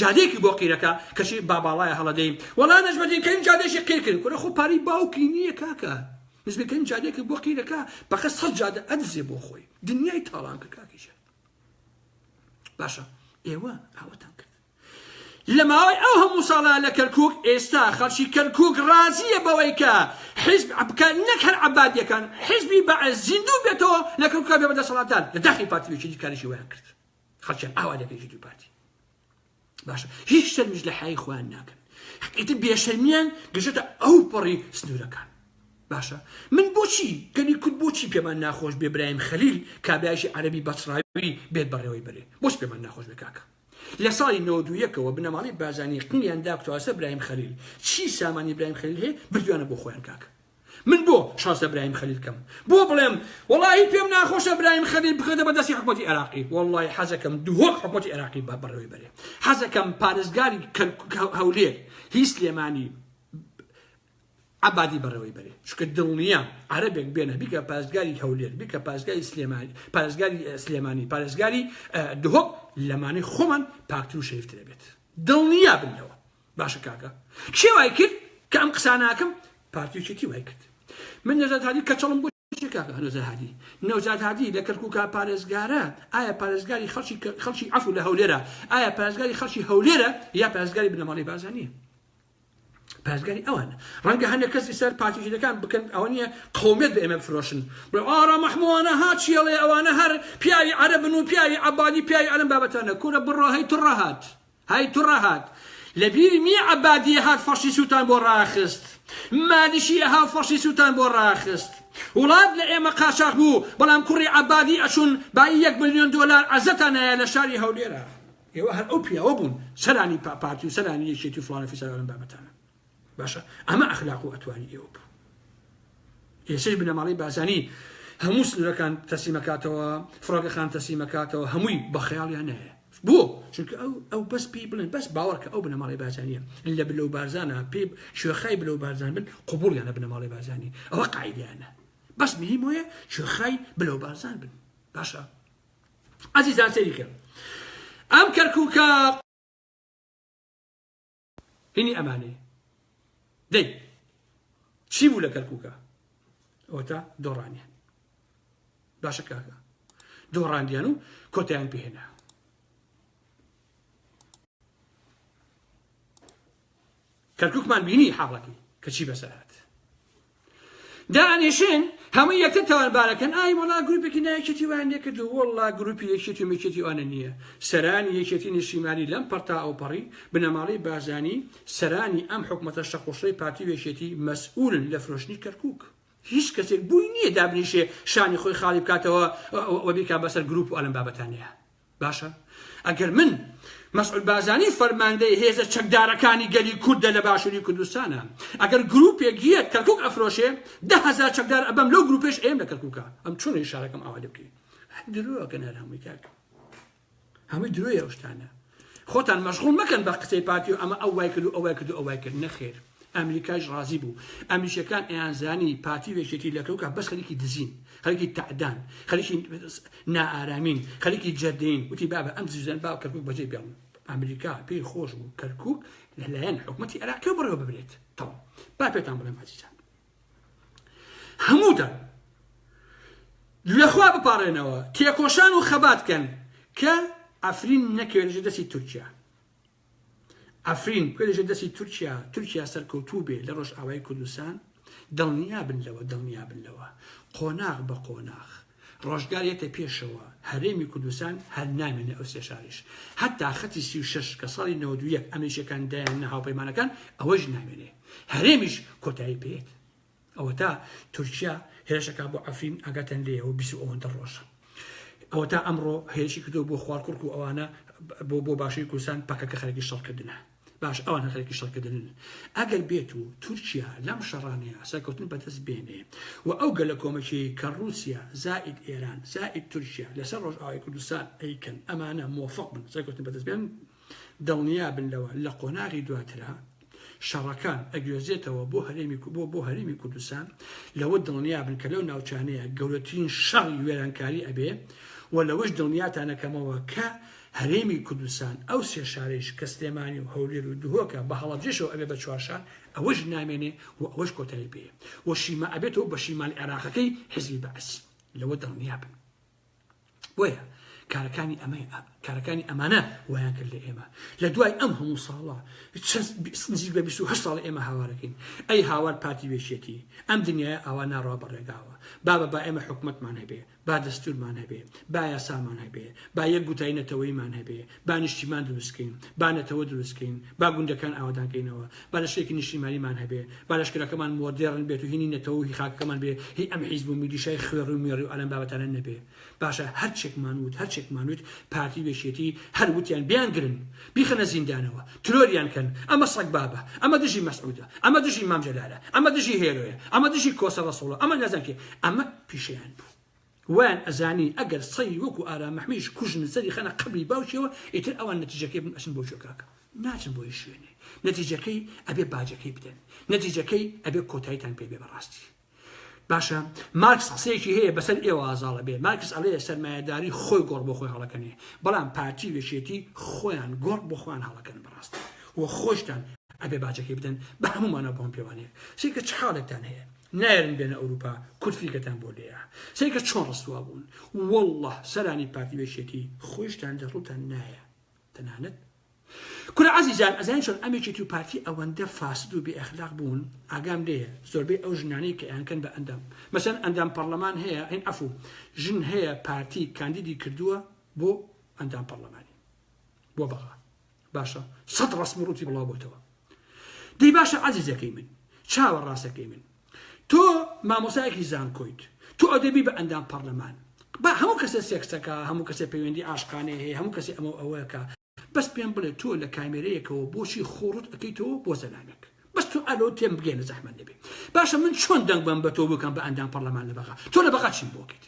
جادەیەکی بۆ قیرەکە کەچی با باڵایە هەڵە دەی وەڵا نەجمەدین کەریم جادەیەکی قیر کرد کورە خۆ پارەی باوکی نییە کاکە نەجمەدین کەریم جادەیەکی بۆ قیرەکە پەخە سەد جادە ئەدزێ بۆ خۆی دنیای تاڵان کرد کاکی جا باشە ئێوە ئاوەتان کرد لە ماوەی ئەو هەموو ساڵە لە کەرکک ئێستا خەڵکی کەرکک ڕازیە بەوەی کە حزب بکە نەک هەر عبادیەکان حزبی بە زیندوو بێتەوە لە کەرکک بێ بە دەسەڵاتدار لە داخی پارتی وێکی دیکارشی ویان کرد خەڵکیان ئاوا لەگەل یەکێتی و پارتی باشە هیچ شەرمیش لە حیای خۆیان ناکەن ئیتر بێشەرمیان گەشێتە ئەو پەڕی سنوورەکان باشە من بۆچی گەلی کورد بۆچی پێمان ناخۆش بێ برایم خەلیل کابراایشی عەربی بەچڕاوی بێت بەڕێوەی بەرێ بۆچ پێمان ناخۆش بێ کاکە لە ساڵی نۆدوویەکەوە بنەماڵی بازانی قنیان داکتواسە برایم خەلیل چی سامانی برایم خەلیل هەیە بردوانە بۆ خۆیان کاکە من بۆ شازدە برایم خەلیل کەم بۆ بڵێم وەڵاهی پێم ناخۆشە برایم خەلیل بخەێتە بەدەستی حکومەتی عێراقی وەڵی حەزەکەم دهۆک حکومەتی عێراقی بە بەڕێوی بەرێ حەزەکەم پارێزگاری هەولێر هی سلێمانی عبادی بەڕێوەی بەرێ چکە دڵنیە عربێک بێنە بیکە پاسگاری هەولێر بیکە پاسگاری سلێمانی پارێزگاری سلێمانی پارێزگاری دهۆک لەمانی خۆمان پاکتر و شەیفترە بێت دڵنییا بنەوە باشە کاکە کێ وای کرد کە ئەم قساناکەم پارتیچێتی وای کرد من نەزات هادی کەچەڵم بۆ کاکە نەزات هادی نەوزات هادی لە کەرکوکا پارێزگارە ئایا پارێزگاری خەڵکی خەڵکی عفو لە هەولێرە ئایا پارێزگاری خەڵکی هەولێرە یا پارێزگاری بنەماڵی بازانیە پارێزگاری ئەوان ڕەنگە هەندێک کەسی سەر پارتیژەکان بکەن ئەوە نیە قومێت بە ئێمە بفرۆشن بڵێ ئارا مەحموانە ها چیڵێ ئەوانە هەر پیاوی عەرەبن و پیاوی عەبادی پیاوی ئەلم بابەتانە کورە بڕۆ هەی تڕەهات هەی تڕەهات لە بیر نی عەبادی ئەهات فەشی سوتان بۆ ڕاخست مالیشی ئەهاو فەشی سوتان بۆ ڕاخست وڵات لە ئێمە قاچاخ بوو بەڵام کوڕی عەبادی ئەچون بایی یەک ملیۆن دۆلار عەزەتان نایە لە شاری هەولێرا ئێوە هەر ئەو پیاوە بوون سەرانی پاپارتی و سەرانی یەکێتی و فڵان و فیسار ئەم بابەتانە باشە ئەمە ئەخلاق و ئەتوانی ئێوە بوو ئێسش بنەماڵی بازانی هەموو سنورەکان تەسیمەکاتەوە فڕۆگەخان تەسیمەکاتەوە هەمووی بە خەیاڵیان نەیە بۆ چونکە ئەو ئەو بەس پێی بڵێن بەس باوەڕکە ئەو بنەماڵی بازانیە لە بلە و بارزانە پێ شوێخای بلە و بارزان بن قوبولیانە بنەماڵی بازانی ئەوە قاعدیانە بەس مهم وەیە شوێخای بلە و بارزان بن باشە ئازیزان سەریکە ئەم کەرکووکە هینی ئەمانەیە دەی چی بوو لە کەرکووکە ئەوەتا دۆڕانیان باشە کاکە دۆڕاندیان و کۆتیان پێهێنا کەرکووکمان بینی حاڵەکەی کەچی بەسەرات دانیشن هەمووی یەکتر تاوانبارەکەن ئای وەڵا گروپێکی نایەکێتی وایان لێ کردو وەڵا گروپی یەکێتی و مەکێتی وانە نییە سەرانی یەکێتی نیشتیمانی لەم پەڕ تا ئەوپەڕی بنەماڵەی بارزانی سەرانی ئەم حکومەتە شەقوشڕەی پارتی و یەکێتی مەسئولن لە فرۆشتنی کەرکوک هیچ کەسێک بووی نییە دابنیشێ شانی خۆی خاڵی بکاتەوە و بیکا بەسەر گروپ و ئەلەم بابەتانەیە باشە ئەگەر من مەسعود بازانی فەرماندەی هێزە چەکدارەکانی گەلی کوردە لە باشووری کوردستانە ئەگەر گروپێک یەت کەرکک ئەفرۆشێ ده هزار چەکدار ئەبەم لەو گروپێش ئێم لە کەرککە ئەم چۆنی شارەکەم ئاوا لێ بکەین درۆکەن هەر هەمووی کاک هەمووی درۆی ئەوشتانە خۆتان مەشغول مەکەن بە قسەی پارتی و ئەمە ئەو وای کرد و ئەو وای کرد و ئەو وای کرد نەخێر ئەمریکایش ڕازی بوو ئەمریکیەکان ئەیانزانی پارتی و یەکێتی لە کەوکە بەس خەریکی دزین خەریکی تەعدان خەریکی نائارامین خەریکی جەردەین وتی بابە ئەم دزیزان با کەرکوک بەجێ بێڵن ئەمریکا پێی خۆش بوو کەرکوک لەلایەن حکوومەتی عێراقی بڕێوە ببرێت تەواو با پێتان بڵێم ئازیزان هەمووتان لەخوا بپارێنەوە تێکۆشان و خەبات کەن کە ئەفرین نەکەوێت دەستی تورکیا عەفرین بکە لەژێر دەستی تورکیا تورکیا سەرکەوتوو بێ لە ڕۆژئاوای کوردستان دڵنیا بن لەوە دڵنیا بن لەوە قۆناغ بە قۆناغ ڕۆژگار یەتە پێشەوە هەرێمی کوردستان هەر نامێنێ ئەو سێ شاریش هەتا خەتی سی و شەش کە ساڵی نەوەد و یەک ئەمریکیەکان دایان نە هاوپەیمانەکان ئەوەش نامێنێ هەرێمیش کۆتایی پێت ئەوەتا تورکیا هێرشەکە بۆ عفرین ئاگاتان لێەوە بیست و ئەوەندە ڕۆژە ئەوەتا ئەمڕۆ هێرشی کردو بۆ خوارکوڕک و ئەوانە بۆ بۆ باشووری کوردستان پەکەکە خەرکی شەڕکردنە باش ئەوان خەرکی شەڕکردن ئەگەر بێت و تورکیا لەم شەڕانەیە سەرکەوتن بەدەست بێنێ و ئەو گەلە کۆمەکی کە رووسیا زائید ئێران زائید تورکیا لەسەر ڕۆژئاوای کوردستان ئەیکەن ئەمانە مۆفق بن سەرکەوتن بەدەست بێن دڵنیابن لەوە لە قۆناغی دواترا شەڕەکان ئەگوێزێتەوە بۆ هەرێمی بۆ بۆ هەرێمی کوردستان لەوە دڵنیابن کە لەو ناوچانەیە گەورەترین شەڕی وێرانکاری ئەبێ و لەوەش دڵنیاتانەکەمەوە کە هەرێمی کوردستان ئەو سێ شارەیش کە سلێمانی و هەولێر و دهۆکە بە هەڵەبجەشەوە ئەبێ بە چوارشار ئەوەش نامێنێ و ئەوەش کۆتایی پێ و شیما ئەبێتەوە بە شیمال عێراقەکەی حزبی بەعس لەوە دڵنیابن. بۆیە کارەکانی ئەمە کارەکانی ئەمانە وایان کرد لە ئێمە لە دوای ئەم هەموو ساڵە نزیک بە 28 ساڵ ئێمە هاوارەکەین ئەی هاوار پارتی وێشێتی ئەم دنیای ئاوا ناڕوا بەڕێگاوە بابە با ئێمە حکومتمان هەبێ با دەستورمان هەبێ با یاسامان هەبێ با یەک گوتای نەتەوەیمان هەبێ با نیشتیمان دروست کەین، با نەتەوە دروست کەین، با گوندەکان ئاوەدان کەینەوە، با لەشێکی نیشتیمانیمان هەبێ، با لەشکرەکەمان مۆدێڕن بێت و هینی نەتەوە و هی خاکەکەمان بێ، هی ئەم حیزب و میلیشای خوێڕی و مێڕی و ئالان بابەتانە نەبێ. باشە هەر چێکمان وت، هەر چێکمان وت، پارتی و یەکێتی هەر وتیان بیان گرن، بیخەنە زیندانەوە، ترۆریان کەن، ئەمە سەگبابە، ئەمە دژی مەسعودە، ئەمە دژی مام جەلالە، ئەمە دژی هێرۆیە، ئەمە دژی کۆسە ڕەسوڵە، ئەمە نازانم کێ، ئەمە پیشەیان بوو. وایان ئەزانی ئەگەر سەری وەکو ئارام محمیش کوژن سەری خەنە قەبری باوکیەوە ئیتر ئەوان نەتیجەکەی بن ئەچن بۆ جۆگاکە ناچن بۆ هیچ شوێنێ نەتیجەکەی ئەبێ باجەکەی بدەن نەتیجەکەی ئەبێ کۆتایتان پێ بێ بەڕاستی باشە مارکس قسەیەکی هەیە بەسەر ئێوە ئازاڵە بێ مارکس ئەڵێ سەرمایەداری خۆی گۆڕ بۆ خۆی هەڵەکەنێ بەڵام پارتی و یەکێتی خۆیان گۆڕ بۆ خۆیان هەڵەکەن بەڕاستی و خۆشتان ئەبێ باجەکەی بدەن بە هەموومانە بۆم پێوانەیە سیکە چ حاڵێکتان هەیە نایەرن بێنە ئەوروپا کورد فیکەتان بۆ لێیە سەیکە چۆن ڕسوا بوون والله سەرانی پارتی بێشێتی خۆشتان لە ڕوتان نایە تەنانەت کورە عزیزان ئەزان چۆن ئەمێکێتی و پارتی ئەوەندە فاسد و بێ ئەخلاق بوون ئاگام لێ زۆربەی ئەو ژنانەی کە ئەیانکەن بە ئەندام مەسەن ئەندام پەرلەمان هەیە ئەین ئەفو ژن هەیە پارتی کاندیدی کردووە بۆ ئەندام پەرلەمانی بۆ بەغا باشە سەد ڕەسم و ڕووتی بڵاو بۆتەوە دەی باشە عەزیزەکەی من چاوە ڕاستەکەی من تۆ مامۆسایەکی زانکۆیت تۆ ئەدەبی بە ئەندام پەرلەمان با هەموو کەسێ سێکسەکە هەموو کەسێ پەیوەندی ئاشقانەیە هەیە هەموو کەسی ئەمە ئەوەکە بەس پێم بڵێ تۆ لە کامێرەیەکەوە بۆچی خۆڕت ئەەکەیتەوە بۆ زەلامێک بەس تۆ ئەلۆ تێم بگەێنە زەحمە نەبێ باشە من چۆن دەنگ بەم بە تۆ بکەم بە ئەندام پەرلەمان لە بەغا تۆ لە بەغا چیم بۆکەیت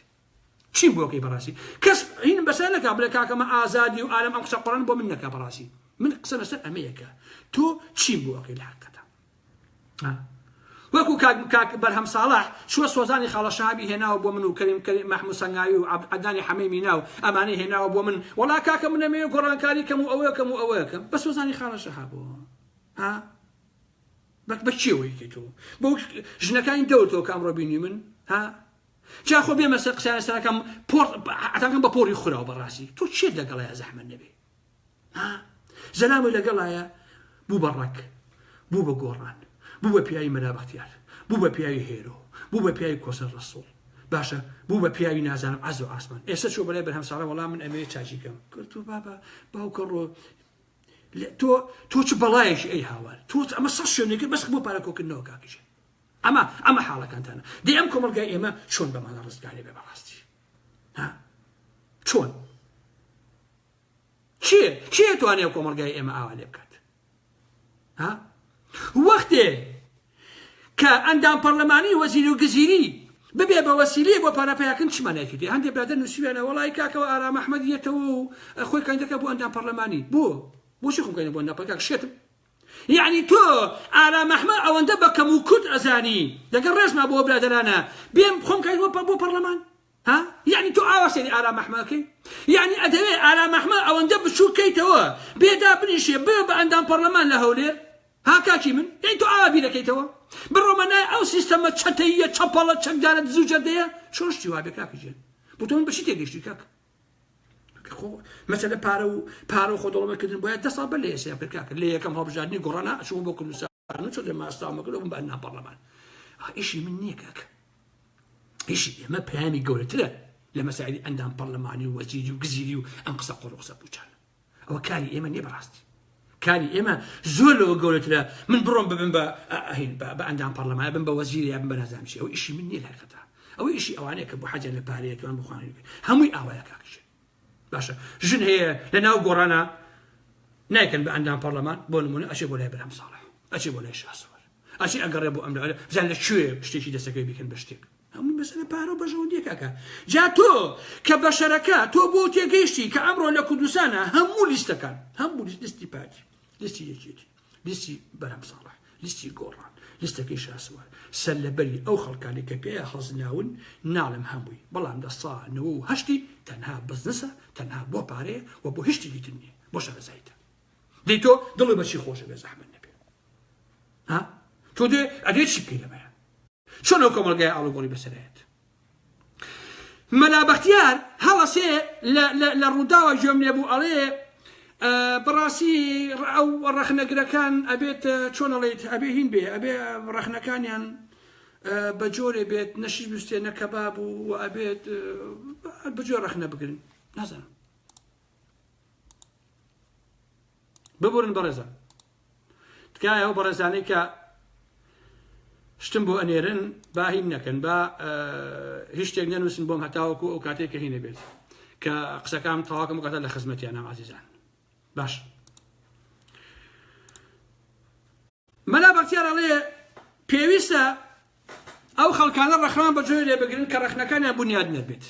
چیم بۆ بکەی بەڕاستی کەس عین بەسەر نەکا بڵێ کاکەمە ئازادی و ئارم ئەم قسە قڕن بۆ من نەکا بەڕاستی من قسە لەسەر ئەمەیەکە تۆ چیم بۆ ئەکەی لە حقەتە وەکو کاک کاک بەرهەم ساڵح شوە سۆزانی خاڵە شەهابی هێناوە بۆ من و کەریم کەریم محمود سەنگاوی و عەدنانی حەمەی مینا و ئەمانەی هێناوە بۆ من وەڵا کاکە من نەمەوێ گۆڕانکاری کەم و ئەوەیە کەم و ئەوەیە کەم بە سۆزانی خاڵە شەهابەوە ها بەک بە کێوەیەکی تۆ بۆ ژنەکانی دەور تۆ کە ئەمڕۆ بینی من ها جا خۆ بێمە سەر قسە سەرەکەم پۆر عتاکەم بە پۆری خوراو بەڕاستی تۆ چێت لەگەڵایە زەحمە نەبێ زەلامی لەگەڵایە بوو بە ڕەک بوو بە گۆڕان بوو بە پیاوی مەلابختیار بوو بە پیاوی هێرۆ بوو بە پیاوی کۆسەر ڕسوڵ باشە بوو بە پیاوی نازانم عز و ئاسمان ئێستا چۆ بەلای بەرهەم ساڵە وەڵام من ئەمێ چاچیکەم کردو بابا باوکە ڕۆ تۆ تۆ چ بەڵایەکی ئەی هاوار تۆ ئەمە سەد شوێنێکە بەس بۆ پارە کۆکردنەوە کاکیژە ئەمە ئەمە حاڵەکانتانە دەی ئەم کۆمەڵگای ئێمە چۆن بەمانە ڕزگارێ بێ بەڕاستی ها چۆن چیە چیە توانێ کۆمەڵگای ئێمە ئاوا لێ بکات ها وەختێ کە ئەندام پەرلەمانی وەزیر و گزیری ببێ بە وەسیلێ بۆ پارەپیاکن چمانێکی دی هەندێک برادە نووسیوێنە وڵی کاکەوە ئارام ئەحمەد یەتەوە و خۆی کەندەکە بۆ ئەندام پەرلەمانی بۆ بۆچی خۆکەین بۆ نەپەکە شێتم یەعنی تۆ ئارام ئەحمەد ئەوەندە بە کەم و کورت ئەزانی لەگەڵ ڕێزما بۆ برادەرانە بێم خۆم کای وە بۆ پەڕلەمان ها یەعنی تۆ ئاوا سەیری ئارام ئەحمەکەی یەعنی ئەدەوێ ئارام ئەحمە ئەوەندە بچووک کەیتەوە بێدا بنیشێ بێ بە ئەندام پەڕلەمان لە هەولێر ها کاکی من یەی تۆ ئاوا بیرەکەیتەوە بڕۆمە نای ئەو سیستەمە چەتەییە چەپەڵە چەکدارە دزوجەردەیە چۆن شتی وابێ کاکە جێن بۆ تۆ من بە چی تێگەیشتی کاکە مەسەلە پارە و پارە و خۆدەڵەمەکردن بۆە دە ساڵ بە لە ئێسیا پێکاکە لە یەکەم هەڵبژاردننی گۆڕنا چوو بۆ کوردستان چۆ لە ماستامەکە بم بە ناپەرلەمان ئیشی من نییە کاکە ئیشی ئێمە پەیامی گەورەترە لە مەساعدی ئەندام پەرلەمانی و وەزیری و گزیری و ئەم قسە قڕ قسە بچان ئەوە کاری ئێمە نیە بەڕاستی کاری ئێمە زۆر لەوە گەورەترە من بڕۆم ببم بە ئەهین بە ئەندام پەرلەمانە بم بە وەزیری بم بە نازانشی ئەو ئیشی من نیە لایقەتە ئەو ئیشی ئەوانەیە کە بۆ حەجە لە پارەیەکەوان بخوانێت هەمووی ئاوایە کاکشێ باشە ژن هەیە لە ناو گۆڕانە نایکەن بە ئەندام پەرلەمان بۆ نمونە ئەشێ بۆ لای برام ساڵح ئەچێ بۆ لای شاسوەر ئەچی ئەگەڕێ بۆ ئەمرە جان لە کوێ شتێکی دەسەکەی بکەن بە شتێک هەمووی مەسەلە پارەو بەژەوەندیە کاکە جا تۆ کە بەشەرەکە تۆ بۆ تێگەیشتی کە ئەمڕۆ لە کوردستانە هەموو لیستەکان هەموو لیستی پارتی لیستی یەکێتی لیستی بەرام ساڵح لیستی گۆڕان لیستەکەی شاسوار سەر لەبەری ئەو خەڵکانی کە پێ حەزناون ناڵم هەمووی بەڵام دە ساانەوە و هەشتی تەنها بزنسە تەنها بۆ پارەیە و بۆ هشتی دیتر نیە بۆ شارەزایتە دەی تۆ دڵی بەچی خۆشە بێ زەحمە نەبێ ها تۆ دێ ئەدێ چی بکەی لەمەیان چۆن ئەو کۆمەڵگای ئاڵوگۆڕی بەسەرایەت مەلا بەختیار هەڵەسێ لە ڕووداوە گوێم لێ بوو ئەڵێ بەڕاستی ئەو ڕەخنەگرەکان ئەبێت چۆنەڵێت ئەبێ هین بێ ئەبێ ڕەخنەکانیان بە جۆرێ بێت نەشی بستێ نەکەبا بوو و ئەبێت بجۆ ڕەخنە بگرن نازانم ببورن بەڕێزان تکایە ئەو بەڕێزانەی کە شتم بۆ ئەنێرن با هین نەکەن با هیچ شتێک نەنووسن بۆم هەتاوەکو ئەو کاتێک کە هینە بێت کە قسەکان تەواکەم قەتە لە خزمەتیانە عزیزان باش مەلا بەختیار ئەڵێ پێویستە ئەو خەڵکانە ڕەخنەیان بە جۆرێ بگرن کە ڕەخنەکانیان بنیادنەر بێت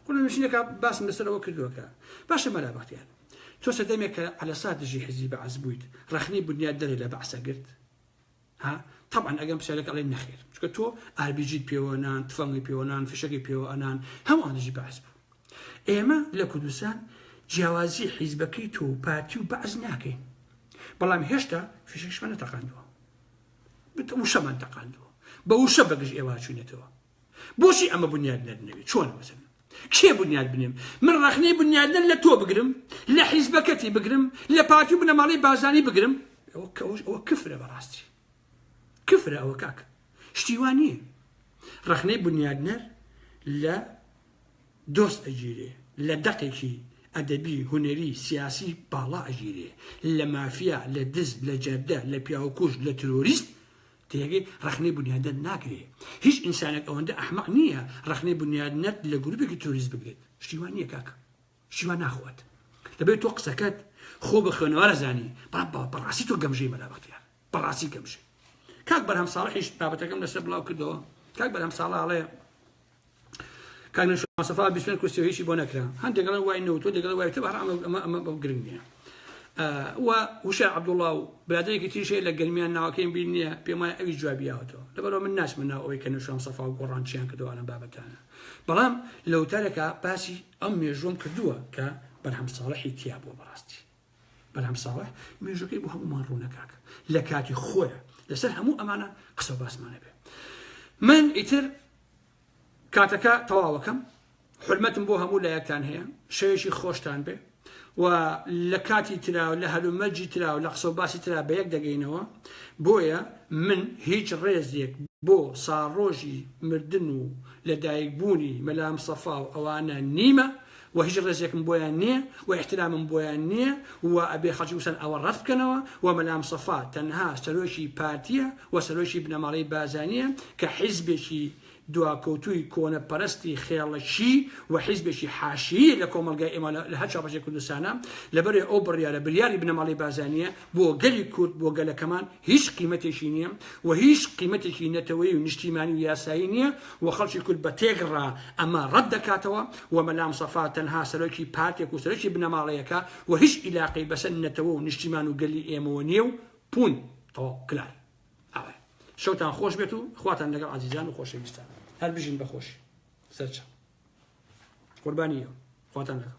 قولە نووسینێکە باسم لەسەرەوە کردووە کە باشە مەلا بەختیار تۆ سەردەمێک کە عەلەسا دژی حزبی بەعس بوویت ڕەخنەی بنیاد دەرێ لە بەعسە گرت ها طبعا ئەگەم پرسیارێک ئەڵێ نەخێر چکە تۆ ئاربیجیت پێوەنان تفەنگی پێوەنان فشەکی پێوە ئەنان هەمووان دژی بەعس بوو ئێمە لە کوردستان جیاوازی حیزبەکەی تۆ و پارتی و بەعس ناکەین بەڵام هێشتا فیشەکشمان نەتەقاندووە بت وشەمان تەقاندووە بە وشە بەگژ ئێوە چوونەتەوە بۆچی ئەمە بنیاد نەدنەوێت چۆن بەسن کێ بنیاد بنێم من ڕخنەی بنیادن لە تۆ بگرم لە حیزبەکەتی بگرم لە پارتی و بنەماڵی بازانی بگرم ئەوە کەوش ئەوە کفرە بەڕاستی کفرە ئەوە کاک شتیوان نییە ڕخنەی بنیادنەر لە دۆست ئەگیرێ لە دەقێکی ئەدەبی هونەری سیاسی باڵا ئەگیرێ لە مافیا لە دز لە جەردە لە پیاوکوژ لە ترۆریست تێگەی ڕەخنەی بونیادنەت ناگرێ هیچ ئینسانێک ئەوەندە ئەحمەق نییە ڕەخنەی بونیادنەت لە گروپێکی ترۆریست بگرێت شتی وا نییە کاکە شتی وا ناخوات دەبێت تۆ قسەکەت خۆ بە خوێنەوارە زانی بەڵام بەڕاستی تۆ گەمژەی مەلا بەختیار بەڕاستی کەم شێ کاک بەرهەم ساڵحیش بابەتەکەم لەسەر بڵاو کردەوە کاک بەرهەم ساڵاڵێ کاگنسەفا بیسن کوسیۆیشی بۆ نەکرا هەندێکڵێن وای نەوتۆ دەگەڵ وای تە بەڕام ئەمە ئەمە بەو گرنگ نییە و وشە عبدوڵڵا و برادێکی تریشێ لە گەرمیان ناوەکەیم بیر نییە پێم وایە ئەوی جوابیاوەتەوە لەبەرەوە من ناچمە ناو ئەوەی کە نوشام سەفا و گۆڕانچیان کردوانە بابەتانە بەڵام لەوتارێکا باسی ئەم مێژوم کردووە کە بەرهەم ساڵحی تیا بووە بەڕاستی بەلام ساڵح مێژوەکەی بۆ هەمومان ڕوونە کاک لە کاتی خۆیە لەسەر هەموو ئەمانە قسە باسمانە بێ من ئیتر کاتەکە تەواوەکەم حرمەتم بۆ هەموو لایەکتان هەیە شەوێکی خۆشتان بێ و لە کاتی تراو لە هەلومەرجی تراو لە قسە باسی ترا بە یەک دەگەینەوە بۆیە من هیچ ڕێزێک بۆ ساڕۆژی مردن و لەدایک بوونی مەلام سەفا و ئەوانە نیمە وە هیچ ڕێزێکم بۆیان نیە وە ئیحترامم بۆیان نیە وە ئەبێ خەڵکی کوردستان ئەوە ڕەت بکەنەوە وە مەلامستەفا تەنها سەرۆکی پارتیە وە سەرۆکی بنەماڵەی بازانیە کە حیزبێکی دواکەوتووی کۆنە پەرستی خێڵەکی وە حیزبێکی حاشیی لە کۆمەڵگای ئێمە لە هەر چوار پارچەی کوردستانە لەبەرئ ئەو بڕیارە بریاری بنەماڵەی بازانیە بۆ گەلی کورد بۆ گەلەکەمان هیچ قیمەتێکی نیە و هیچ قیمەتێکی نەتەوەیی و نیشتیمانی و یاسایی نیە و خەڵکی کورد بە تێک ڕا ئەمە ڕەت دەکاتەوە و مەلا مسەفا تەنها سەرۆکی پارتێک و سەرۆکی بنەماڵەیەکە و هیچ ئیلاقەی بەسەر نەتەوە و نیشتیمان و گەلی ئێمەوە نیە و پوون تەواو کلار ئاوای شەوتان خۆش بێت و خواتان لەگەڵ عزیزان و خۆشەویستان هەر بژین بەخۆشی سەرچە قوربانیە خواتان لەگەڵ